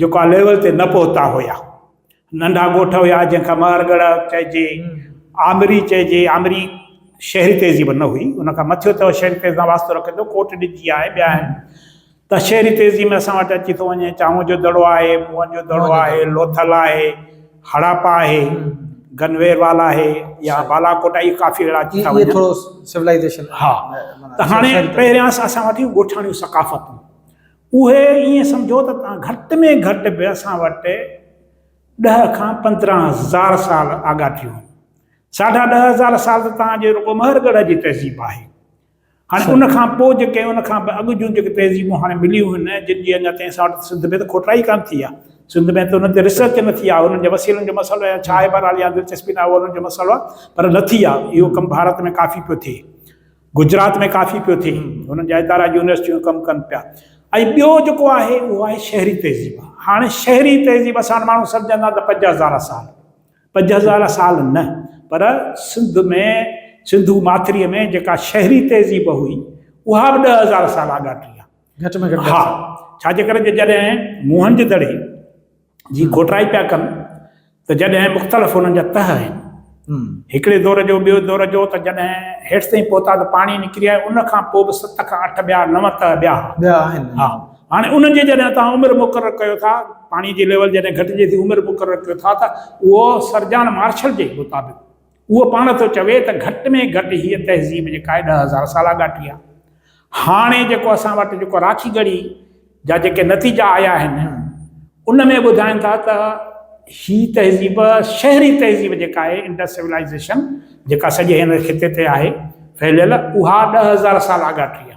جيڪا ليول تي نه پهتا هيا. ننڍا ڳوٺ هيا جنهن کي مهر ڳڙهه چئجي، آمري چئجي، آمري شهري تهذيب نه هئي، ان کان مٿيو ته شهري تهذيب سان واسطو رکي ٿو، ڪوٽ ڏج جي آهي، ٻيا آهن، ته شهري تهذيب ۾ اسان وٽ اچي ٿو وڃي چانهون جو دڙو آهي، موئن جو دڙو آهي، لوٿل آهي، هڙاپا آهي، گنوير وال آهي يا بالاڪوٽ آهي، اهي ڪافي اهڙا اچي ٿا وڃن. اهي ٿورو سولائيزيشن. ها ته هاڻي پهريان اسان وٽ ڳوٺاڻيون ثقافتون، اهي ائين سمجهو ته توهان گهٽ ۾ گهٽ به اسان وٽ ڏهه کان پندرهن هزار سال آڳا ٿيون هيون. ساڍا ڏهه هزار سال ته توهان جي رڳو مهر ڳڙهه جي تهذيب آهي. هاڻي ان کان پوء جيڪي ان کان به اڳ جون جيڪي تهذيبون هاڻي مليون هن جن جي اڃا تائين اسان وٽ سنڌ ۾ ته کوٽائي ئي ڪانه ٿي آهي. سنڌ ۾ ته ان تي ريسرچ نه ٿي آهي. انهن جي وسيلن جو مسئلو يا ڇا آهي بهرحال يا دلچسپي نه آهي اهو انهن جو مسئلو آهي پر نه ٿي آهي. اهو ڪم ڀارت ۾ ڪافي پيو ٿئي. گجرات ۾ ڪافي پيو ٿئي انهن جا ادارا اڄ يونيورسٽيون ڪم ڪن پيا ۽ ٻيو جيڪو آهي اهو آهي شهري تهذيب هاڻي شهري تهذيب اسان وٽ ماڻهو سمجهندا ته پنج هزار سال پنج هزار سال نه پر سنڌ ۾ سنڌو ماٿري ۾ جيڪا شهري تهذيب هئي اها به ڏهه هزار سال آڳاٽي آهي گهٽ ۾ گهٽ ڏهه سال ها ڇاجي ڪري جڏهن موهن جو دڙي جي کوٽرائي پيا ڪن ته جڏهن مختلف انهن جا تهه آهن هڪڙي دور جو ٻيو دور جو ته جڏهن هيٺ تائين پهتا ته پاڻي نڪري آيو ان کان پوء به ست کان اٺ ٻيا نو تهه ٻيا ٻيا آهن ها هاڻي انهن جي جڏهن توهان عمر مقرر ڪيو ٿا پاڻي جي ليول جڏهن گهٽجي ٿي عمر مقرر ڪيو ٿا ته اهو سرجان مارشل جي مطابق اهو پاڻ ٿو چوي ته گهٽ ۾ گهٽ هيء تهذيب جيڪا آهي ڏهه هزار سالا ڳاٽي آهي. هاڻي جيڪو اسان وٽ جيڪو راکي ڳڙهي جا جيڪي نتيجا آيا آهن ان ۾ ٻڌائين ٿا ته هي تهذيب شهري تهذيب جيڪا آهي انڊس سولائيزيشن جيڪا سڄي هن خطي تي آهي ڦهليل اها ڏهه هزار سالا ڳاٽي آهي.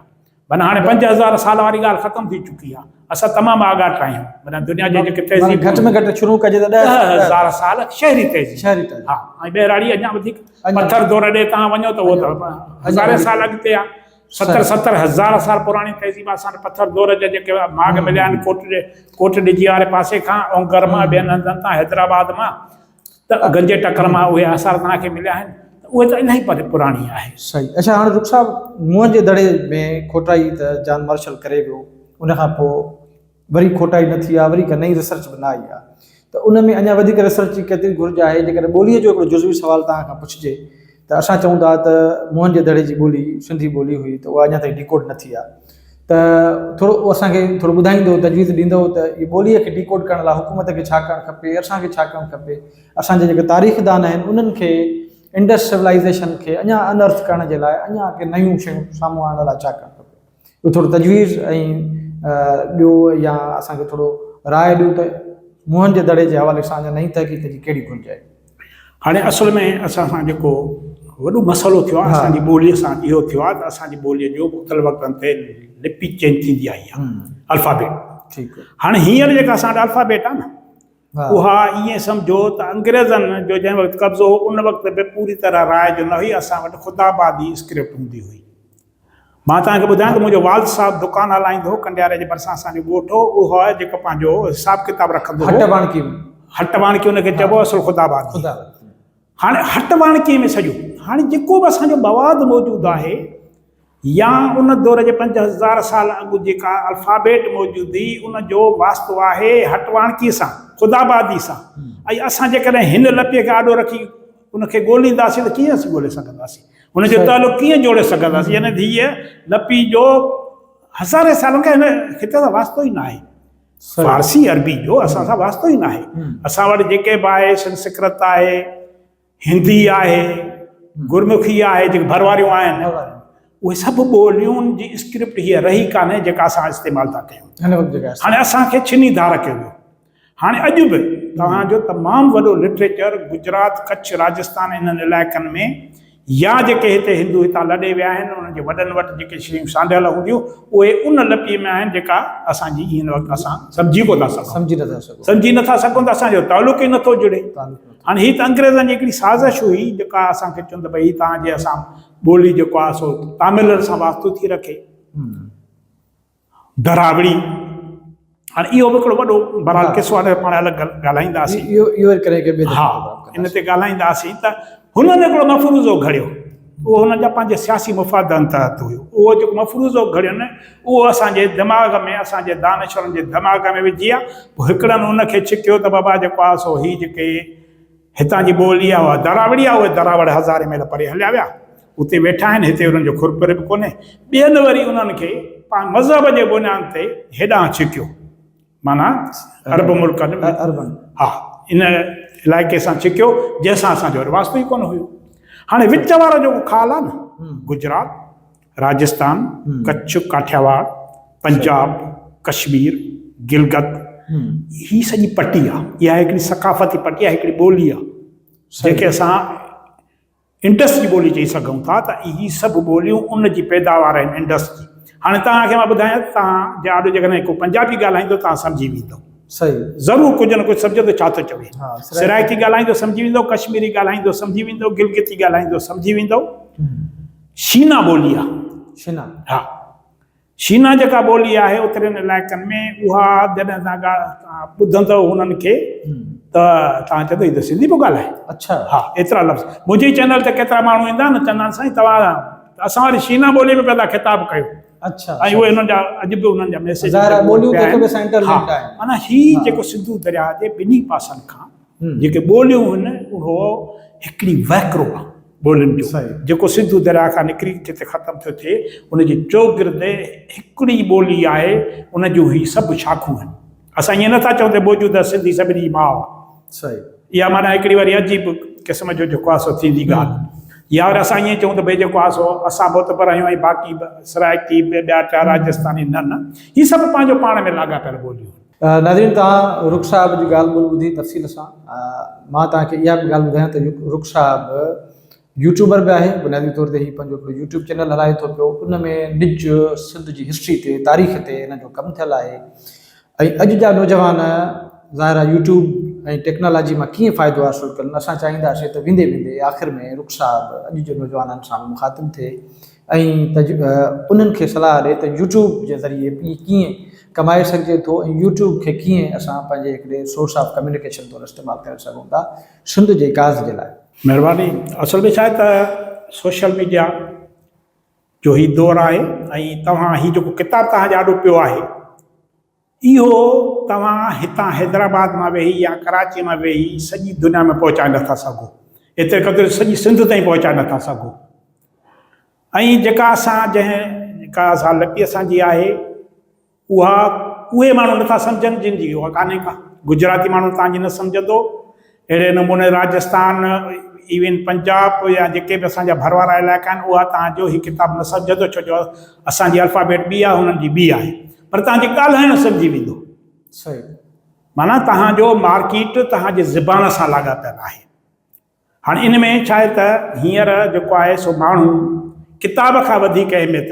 معنيٰ هاڻي پنج هزار سال واري ڳالهه ختم ٿي چڪي آهي. اسان تمام آڳاٽ آهيون. معنيٰ دنيا جي جيڪي تهذيبون. گهٽ ۾ گهٽ شروع ڪجي ته ڏهه هزار سال شهري تهذيب. شهري تهذيب. ها ۽ ٻهراڙي اڃا وڌيڪ پٿر دور ڏي تان وڃو ته اهو ته هزارين سال اڳتي آهي. ستر ستر هزار سال پراڻي تهذيب آهي. اسان وٽ پٿر دور جا جيڪي ماڳ مليا آهن ڪوٽ ڏي ڪوٽ ڏجي واري پاسي کان اونگر مان ٻين هنڌن تان حيدرآباد مان ته اگهن جي ٽڪر مان اهي آثار توهان کي مليا آهن ته اهي ته الاهي پري پراڻي آهي. صحيح اڇا هاڻي رخ صاحب منهن جي دڙي ۾ کوٽائي ته جان مارشل ڪري ويو ان کان پوء وري کوٽائي نه ٿي آهي وري ڪا نئين ريسرچ به نه آئي آهي ته ان ۾ اڃا وڌيڪ ريسرچ جي ڪيتري گهرج آهي جيڪڏهن ٻوليء جو هڪڙو جزوي سوال توهان کان پڇجي ته اسان چئون ٿا ته موهن جي دڙي جي ٻولي سنڌي ٻولي هئي ته اها اڃا تائين ڊيڪوڊ نه ٿي آهي ته ٿورو اهو اسان کي ٿورو ٻڌائيندو تجويز ڏيندو ته هي ٻولي کي ڊيڪوڊ ڪرڻ لاء حڪومت کي ڇا ڪرڻ کپي اسان کي ڇا ڪرڻ کپي اسان جي جيڪي تاريخ دان آهن انهن کي انڊس سولائيزيشن کي اڃا انرٿ ڪرڻ جي لاء اڃا اڳي نيون شيون سامهون آڻڻ لاء ڇا ڪرڻ کپي اهو ٿورو تجويز ۽ ڏيو يا اسان کي ٿورو راء ڏيو ته موهن جي دڙي جي حوالي سان اڃا نئين تحقيق جي ڪهڙي گهرج آهي. هاڻي اصل ۾ اسان سان جيڪو وڏو مسئلو ٿيو آهي اسان جي ٻولي سان اهو ٿيو آهي ته اسان جي ٻولي جو مختلف وقتن تي لپي چينج ٿيندي آئي آهي الفابيٽ ٺيڪ هاڻي هينئر جيڪا اسان وٽ الفابيٽ آهي نه اها ائين سمجهو ته انگريزن جو جنهن وقت قبضو هو ان وقت به پوري طرح راء جو نه هئي اسان وٽ خطابادي اسڪرپٽ هوندي هئي مان توهان کي ٻڌايان ته منهنجو والد صاحب دڪان هلائيندو هو، ڪنڊياري جي ڀرسان اسان جو ڳوٺ هو، اهو آهي جيڪو پنهنجو حساب ڪتاب رکندو هو. هٽ واڻڪي ۾. هٽ واڻڪي ان کي چئبو هو اصل خدا آباد جي. خدا آباد. هاڻي هٽ واڻڪي ۾ سڄو. هاڻي جيڪو به اسان جو مواد موجود آهي يا ان دور جي پنج هزار سال اڳ جيڪا الفابيٽ موجود هئي ان جو واسطو آهي هٽ واڻڪي سان، خدا آبادي سان. ۽ اسان جيڪڏهن هن لپيء کي آڏو رکي ان کي ڳولينداسين ته ڪيئن اسين ڳولي سگهنداسين؟ هن جو تعلق ڪيئن جوڙي سگهنداسين؟ هن ڌيء لپي جو هزارين سالن کان هن خطي سان واسطو ئي ناهي. فارسي عربي جو اسان سان واسطو ئي ناهي. اسان وٽ جيڪي به آهي سنسڪرت آهي، هندي آهي، گرمکي آهي، جيڪي ڀر واريون آهن، اهي سڀ ٻوليون جي اسڪرپٽ هيء رهي ڪانهي جيڪا اسان استعمال ٿا ڪيون. هاڻي اسان کي ڇني ڌار ڪيو ويو. هاڻي اڄ به توهان جو تمام وڏو لٽريچر گجرات، ڪڇ، راجستان انهن علائقن ۾ يا جيڪي هتي هندو هتان لڏي ويا آهن انهن جي وڏن وٽ جيڪي شيون سانڍيل هونديون اهي ان لپيء ۾ آهن جيڪا اسان جي هن وقت اسان سمجهي ڪو ٿا سگهون. سمجهي نٿا سگهون. سمجهي نٿا سگهون ته اسان جو تعلق ئي نٿو جڙي. هاڻي هي ته انگريزن جي هڪڙي سازش هئي جيڪا اسان کي چون ته ڀئي هي توهان جي اسان ٻولي جيڪو آهي سو تاملن سان واسطو ٿي رکي. ڌراوڙي هاڻي اهو به هڪڙو وڏو برحال قصو آهي پاڻ الڳ ڳالهائينداسين اهو اهو ڪري ڪي به ها ان تي ڳالهائينداسين ته هنن هڪڙو مفروضو گهڙيو اهو هنن جا پنهنجا سياسي مفادن تحت هيو اهو جيڪو مفروضو گهڙيو نه اهو اسان جي دماغ ۾ اسان جي دانشورن جي دماغ ۾ وجهي آ پوء هڪڙن ان کي ڇڪيو ته بابا جيڪو آ سو هي جيڪي هتان جي ٻولي اها دراوڙي آهي. اهي دراوڙ هزارين ميل پري هليا ويا. اتي ويٺا آهن. هتي انهن جو خور پري به ڪونهي. ٻين وري انهن کي پنهنجي مذهب جي بنيان تي هيڏانهن ڇڪيو. معنيٰ عرب ملڪن ۾ ها ان علائقي سان ڇڪيو، جنهن سان اسان جو وري واسطو ئي ڪونه هيو. هاڻي وچ وارو جيڪو خال آهي نه، گجرات، راجستان، ڪڇ، ڪاٺياواڙ، پنجاب، ڪشمير، گلگت هي سڄي پٽي آ اها هڪڙي ثقافتي پٽي آ هڪڙي ٻولي آ جنهن کي اسان انڊس جي ٻولي چئي سگهون ٿا ته هي سڀ ٻوليون ان جي پيداوار آهن انڊس جي هاڻي توهان کي مان ٻڌايان ته توهان جي آڏو جيڪڏهن ڪو پنجابي ڳالهائيندو توهان سمجهي ويندو صحيح ضرور ڪجهه نه ڪجهه سمجهندو ڇا ٿو چوي سرائڪي ڳالهائيندو سمجهي ويندو ڪشميري ڳالهائيندو سمجهي ويندو گلگتي ڳالهائيندو سمجهي ويندو شينا ٻولي آهي. شينا. ها. شينا جيڪا ٻولي آهي اترين علائقن ۾ اها جڏهن تان ڳالهه ٻڌندؤ هنن کي ته تان چوندو هي ته سنڌي پيو ڳالهائي. اڇا. ها ايترا لفظ منهنجي چينل تي ڪيترا ماڻهو ايندا آهن چوندا آهن سائين توهان اسان واري شينا ٻولي ۾ پنهنجا خطاب ڪيو. اڇا. ۽ اهي هنن جا اڄ به هنن جا ميسيج. ظاهر آهي ٻوليون ته هڪ ٻئي سان انٽرلنڪڊ آهن. معنيٰ هي جيڪو سنڌو درياء جي ٻنهي پاسن کان جيڪي ٻوليون هن اهو هڪڙي وهڪرو آهي ٻولين جو جيڪو سنڌو درياء کان نڪري جتي ختم ٿيو ٿئي ان جي چوگرد هڪڙي ٻولي آهي ان جون هي سڀ شاخون آهن اسان ائين نه ٿا چئون ته موجوده سنڌي سڀني جي ماء آهي اها معنيٰ هڪڙي وري عجيب قسم جو جيڪو آهي سو ٿيندي ڳالهه يا وري اسان ائين چئون ته ڀئي جيڪو آهي سو اسان معتبر آهيون ۽ باقي سرائڪي ٻيا ٽيا راجستاني نه نه هي سڀ پنهنجو پاڻ ۾ لاڳاپيل ٻوليون آهن. ناظرين توهان رخ صاحب جي ڳالهه ٻولهه ٻڌي تفصيل سان مان توهان کي اها به ڳالهه ٻڌايان ته رخ صاحب يوٽيوبر به آهي بنيادي طور تي هي پنهنجو هڪڙو يوٽيوب چينل هلائي ٿو پيو ان ۾ نج سنڌ جي هسٽري تي تاريخ تي هن جو ڪم ٿيل آهي ۽ اڄ جا نوجوان ظاهر آهي يوٽيوب ۽ ٽيڪنالاجي مان ڪيئن فائدو حاصل ڪن اسان چاهينداسين ته ويندي ويندي آخر ۾ رخ صاحب اڄ جي نوجوانن سان مخاطب ٿئي ۽ انهن کي صلاح ڏي ته يوٽيوب جي ذريعي پي ڪيئن ڪمائي سگهجي ٿو ۽ يوٽيوب کي ڪيئن اسان پنهنجي هڪڙي سورس آف ڪميونيڪيشن طور استعمال ڪري سگهون ٿا سنڌ جي ڪاز جي لاء. مهرباني اصل ۾ ڇاهي ته سوشل ميڊيا جو هي دور آهي ۽ توهان هي جيڪو ڪتاب توهان جي آڏو پيو آهي اهو توهان هتان حيدرآباد مان ويهي يا ڪراچيء مان ويهي سڄي دنيا ۾ پهچائي نه ٿا سگهو. ايتري قدر جو سڄي سنڌ تائين پهچائي نه ٿا سگهو. ۽ جيڪا اسان جنهن ڪا سا لپي اسان جي آهي، اها اهي ماڻهو نه ٿا سمجهن جن جي اها ڪانهي ڪا. گجراتي ماڻهو توهان جي نه سمجهندو اهڙي نموني راجستان ايون پنجاب يا جيڪي به اسان جا ڀر وارا علائقا آهن اها توهان جو هي ڪتاب نه سمجهندو ڇو جو اسان جي الفابيٽ ٻي آهي هنن جي ٻي آهي پر توهان جي ڳالهائڻ سمجهي ويندو. صحيح. معنيٰ توهان جو مارڪيٽ توهان جي زبان سان لاڳاپيل آهي. هاڻ ان ۾ ڇا آهي ته هينئر جيڪو آهي سو ماڻهو ڪتاب کان وڌيڪ اهميت.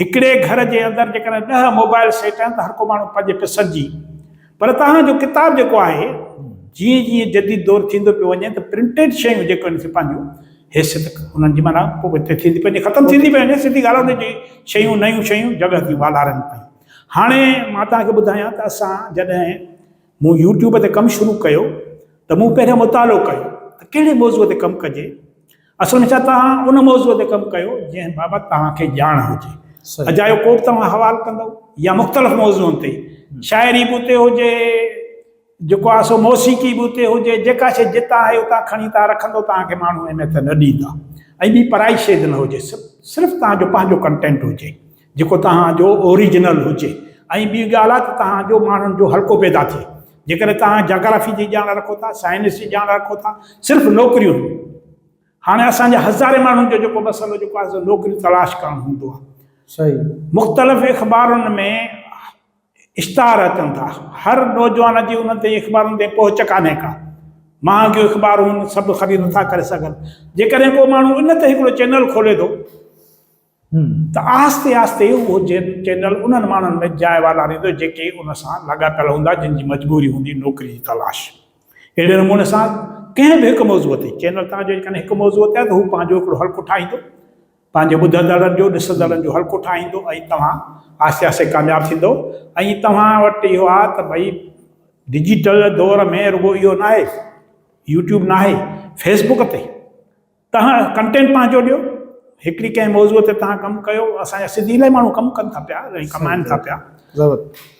هڪڙي گهر جي اندر جيڪڏهن ڏهه موبائل سيٽ آهن ته هر ڪو ماڻهو پنهنجي پسند جي پر توهان جو ڪتاب جيڪو آهي جيئن جيئن جديد دور ٿيندو پيو وڃي ته پرنٽيڊ شيون جيڪو آهن سي پنهنجو حيثيت انهن جي معنيٰ پوء اتي ٿيندي پنهنجي ختم ٿيندي پئي وڃي سڌي ڳالهه انهن جي شيون نيون شيون جڳهه ٿيون والارين پيون هاڻي مان توهان کي ٻڌايان ته اسان جڏهن مون يوٽيوب تي ڪم شروع ڪيو ته مون پهريان مطالعو ڪيو ته ڪهڙي موضوع تي ڪم ڪجي اسان نشا توهان ان موضوع تي ڪم ڪيو جنهن بابت توهان کي ڄاڻ هجي اجايو ڪوبه توهان حوال ڪندو يا مختلف موضوعن تي شاعري به اتي هجي جيڪو آهي سو موسيقي به اتي هجي جيڪا شيء جتان آهي اتان کڻي توهان رکندو توهان کي ماڻهو اهميت نه ڏيندا ۽ ٻي پرائي شيء نه هجي صرف توهان جو پنهنجو ڪنٽينٽ هجي جيڪو توهان جو اوريجنل هجي ۽ ٻي ڳالهه آهي ته توهان جو ماڻهن جو حلقو پيدا ٿئي. جيڪڏهن توهان جاگرافي جي ڄاڻ رکو ٿا، سائنس جي ڄاڻ رکو ٿا، صرف نوڪريون نه. هاڻي اسان جي هزارين ماڻهن جو جيڪو مسئلو جيڪو آهي سو نوڪري تلاش ڪرڻ هوندو آهي. صحيح. مختلف اخبارن ۾ اشتهار اچن ٿا. هر نوجوان جي انهن تائين اخبارن تائين پهچ ڪانهي ڪا. مهانگيون اخبارون آهن، سڀ خريد نٿا ڪري سگهن. جيڪڏهن ڪو ماڻهو ان تي هڪڙو چينل کولي ٿو. ته آهستي آهستي اهو چينل انهن ماڻهن ۾ جاء والاريندو جيڪي ان سان لاڳاپيل هوندا جن جي مجبوري هوندي نوڪري جي تلاش. اهڙي نموني سان ڪنهن به هڪ موضوع تي چينل توهان جو جيڪڏهن هڪ موضوع تي آهي ته هو پنهنجو هڪڙو حلقو ٺاهيندو پنهنجي ٻڌندڙن جو ڏسندڙن جو حلقو ٺاهيندو ۽ توهان آهستي آهستي ڪامياب ٿيندو ۽ توهان وٽ اهو آهي ته ڀئي ڊجيٽل دور ۾ رڳو اهو ناهي يوٽيوب ناهي فيسبوڪ تي توهان ڪنٽينٽ پنهنجو ڏيو هڪڙي ڪنهن موضوع تي توهان ڪم ڪيو اسان جا سنڌي الاهي ماڻهو ڪم ڪن ٿا پيا ۽ ڪمائن ٿا پيا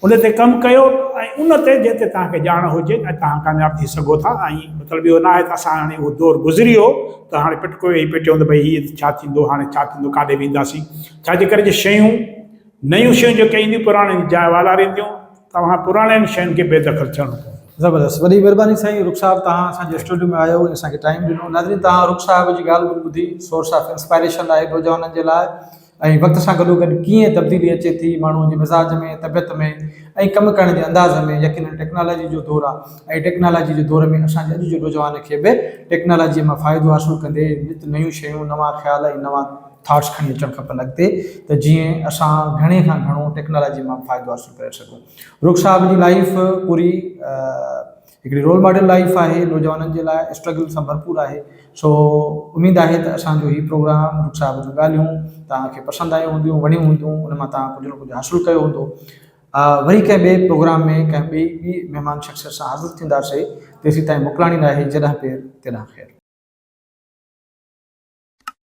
ان تي ڪم ڪيو ۽ ان تي جنهن تي توهان کي ڄاڻ هجي ۽ توهان ڪامياب ٿي سگهو ٿا ۽ مطلب اهو ناهي ته اسان هاڻي اهو دور گذري ويو ته هاڻي پٽڪو ويهي پٽيون ته ڀئي هي ڇا ٿيندو هاڻي ڇا ٿيندو ڪاڏي وينداسين ڇاجي ڪري جو شيون نيون شيون جيڪي ائين پراڻين جاء والارينديون توهان پراڻين شين کي بي دخل ٿيڻو پوندو. زبردست وڏي مھرباني سائين رخ صاحب توھان اسان جي اسٽوڊيو ۾ آيو ۽ اسان کي ٽائيم ڏنو ناظرين توھان رخ صاحب جي ڳالھ ٻولھ ٻڌي سورس آف انسپائريشن آھي نوجوانن جي لاء ۽ وقت سان گڏوگڏ ڪيئن تبديلي اچي ٿي ماڻھوء جي مزاج ۾ طبيعت ۾ ۽ ڪم ڪرڻ جي انداز ۾ يقينن ٽيڪنالاجي جو دور آ ۽ ٽيڪنالاجي جي دور ۾ اسان جي اڄ جي نوجوان کي به ٽيڪنالاجي مان فائدو حاصل ڪندي نت نيون شيون نوان خيال ۽ نوان ٿاٽس کڻي اچڻ کپن اڳتي ته جيئن اسان گهڻي کان گهڻو ٽيڪنالاجي مان فائدو حاصل ڪري سگهون رخ صاحب جي لائيف پوري هڪڙي رول ماڊل لائيف آهي نوجوانن جي لاء اسٽرگل سان ڀرپور آهي سو اميد آهي ته اسان جو هي پروگرام رخ صاحب جون ڳالهيون توهان کي پسند آيون هونديون وڻيون هونديون ان مان توهان ڪجهه نه ڪجهه حاصل ڪيو هوندو وري ڪنهن ٻئي پروگرام ۾ ڪنهن ٻئي ٻي مهمان شخصيت سان حاضر ٿينداسي تيسين تائين موڪلاڻي ناهي جڏهن پير تڏهن خير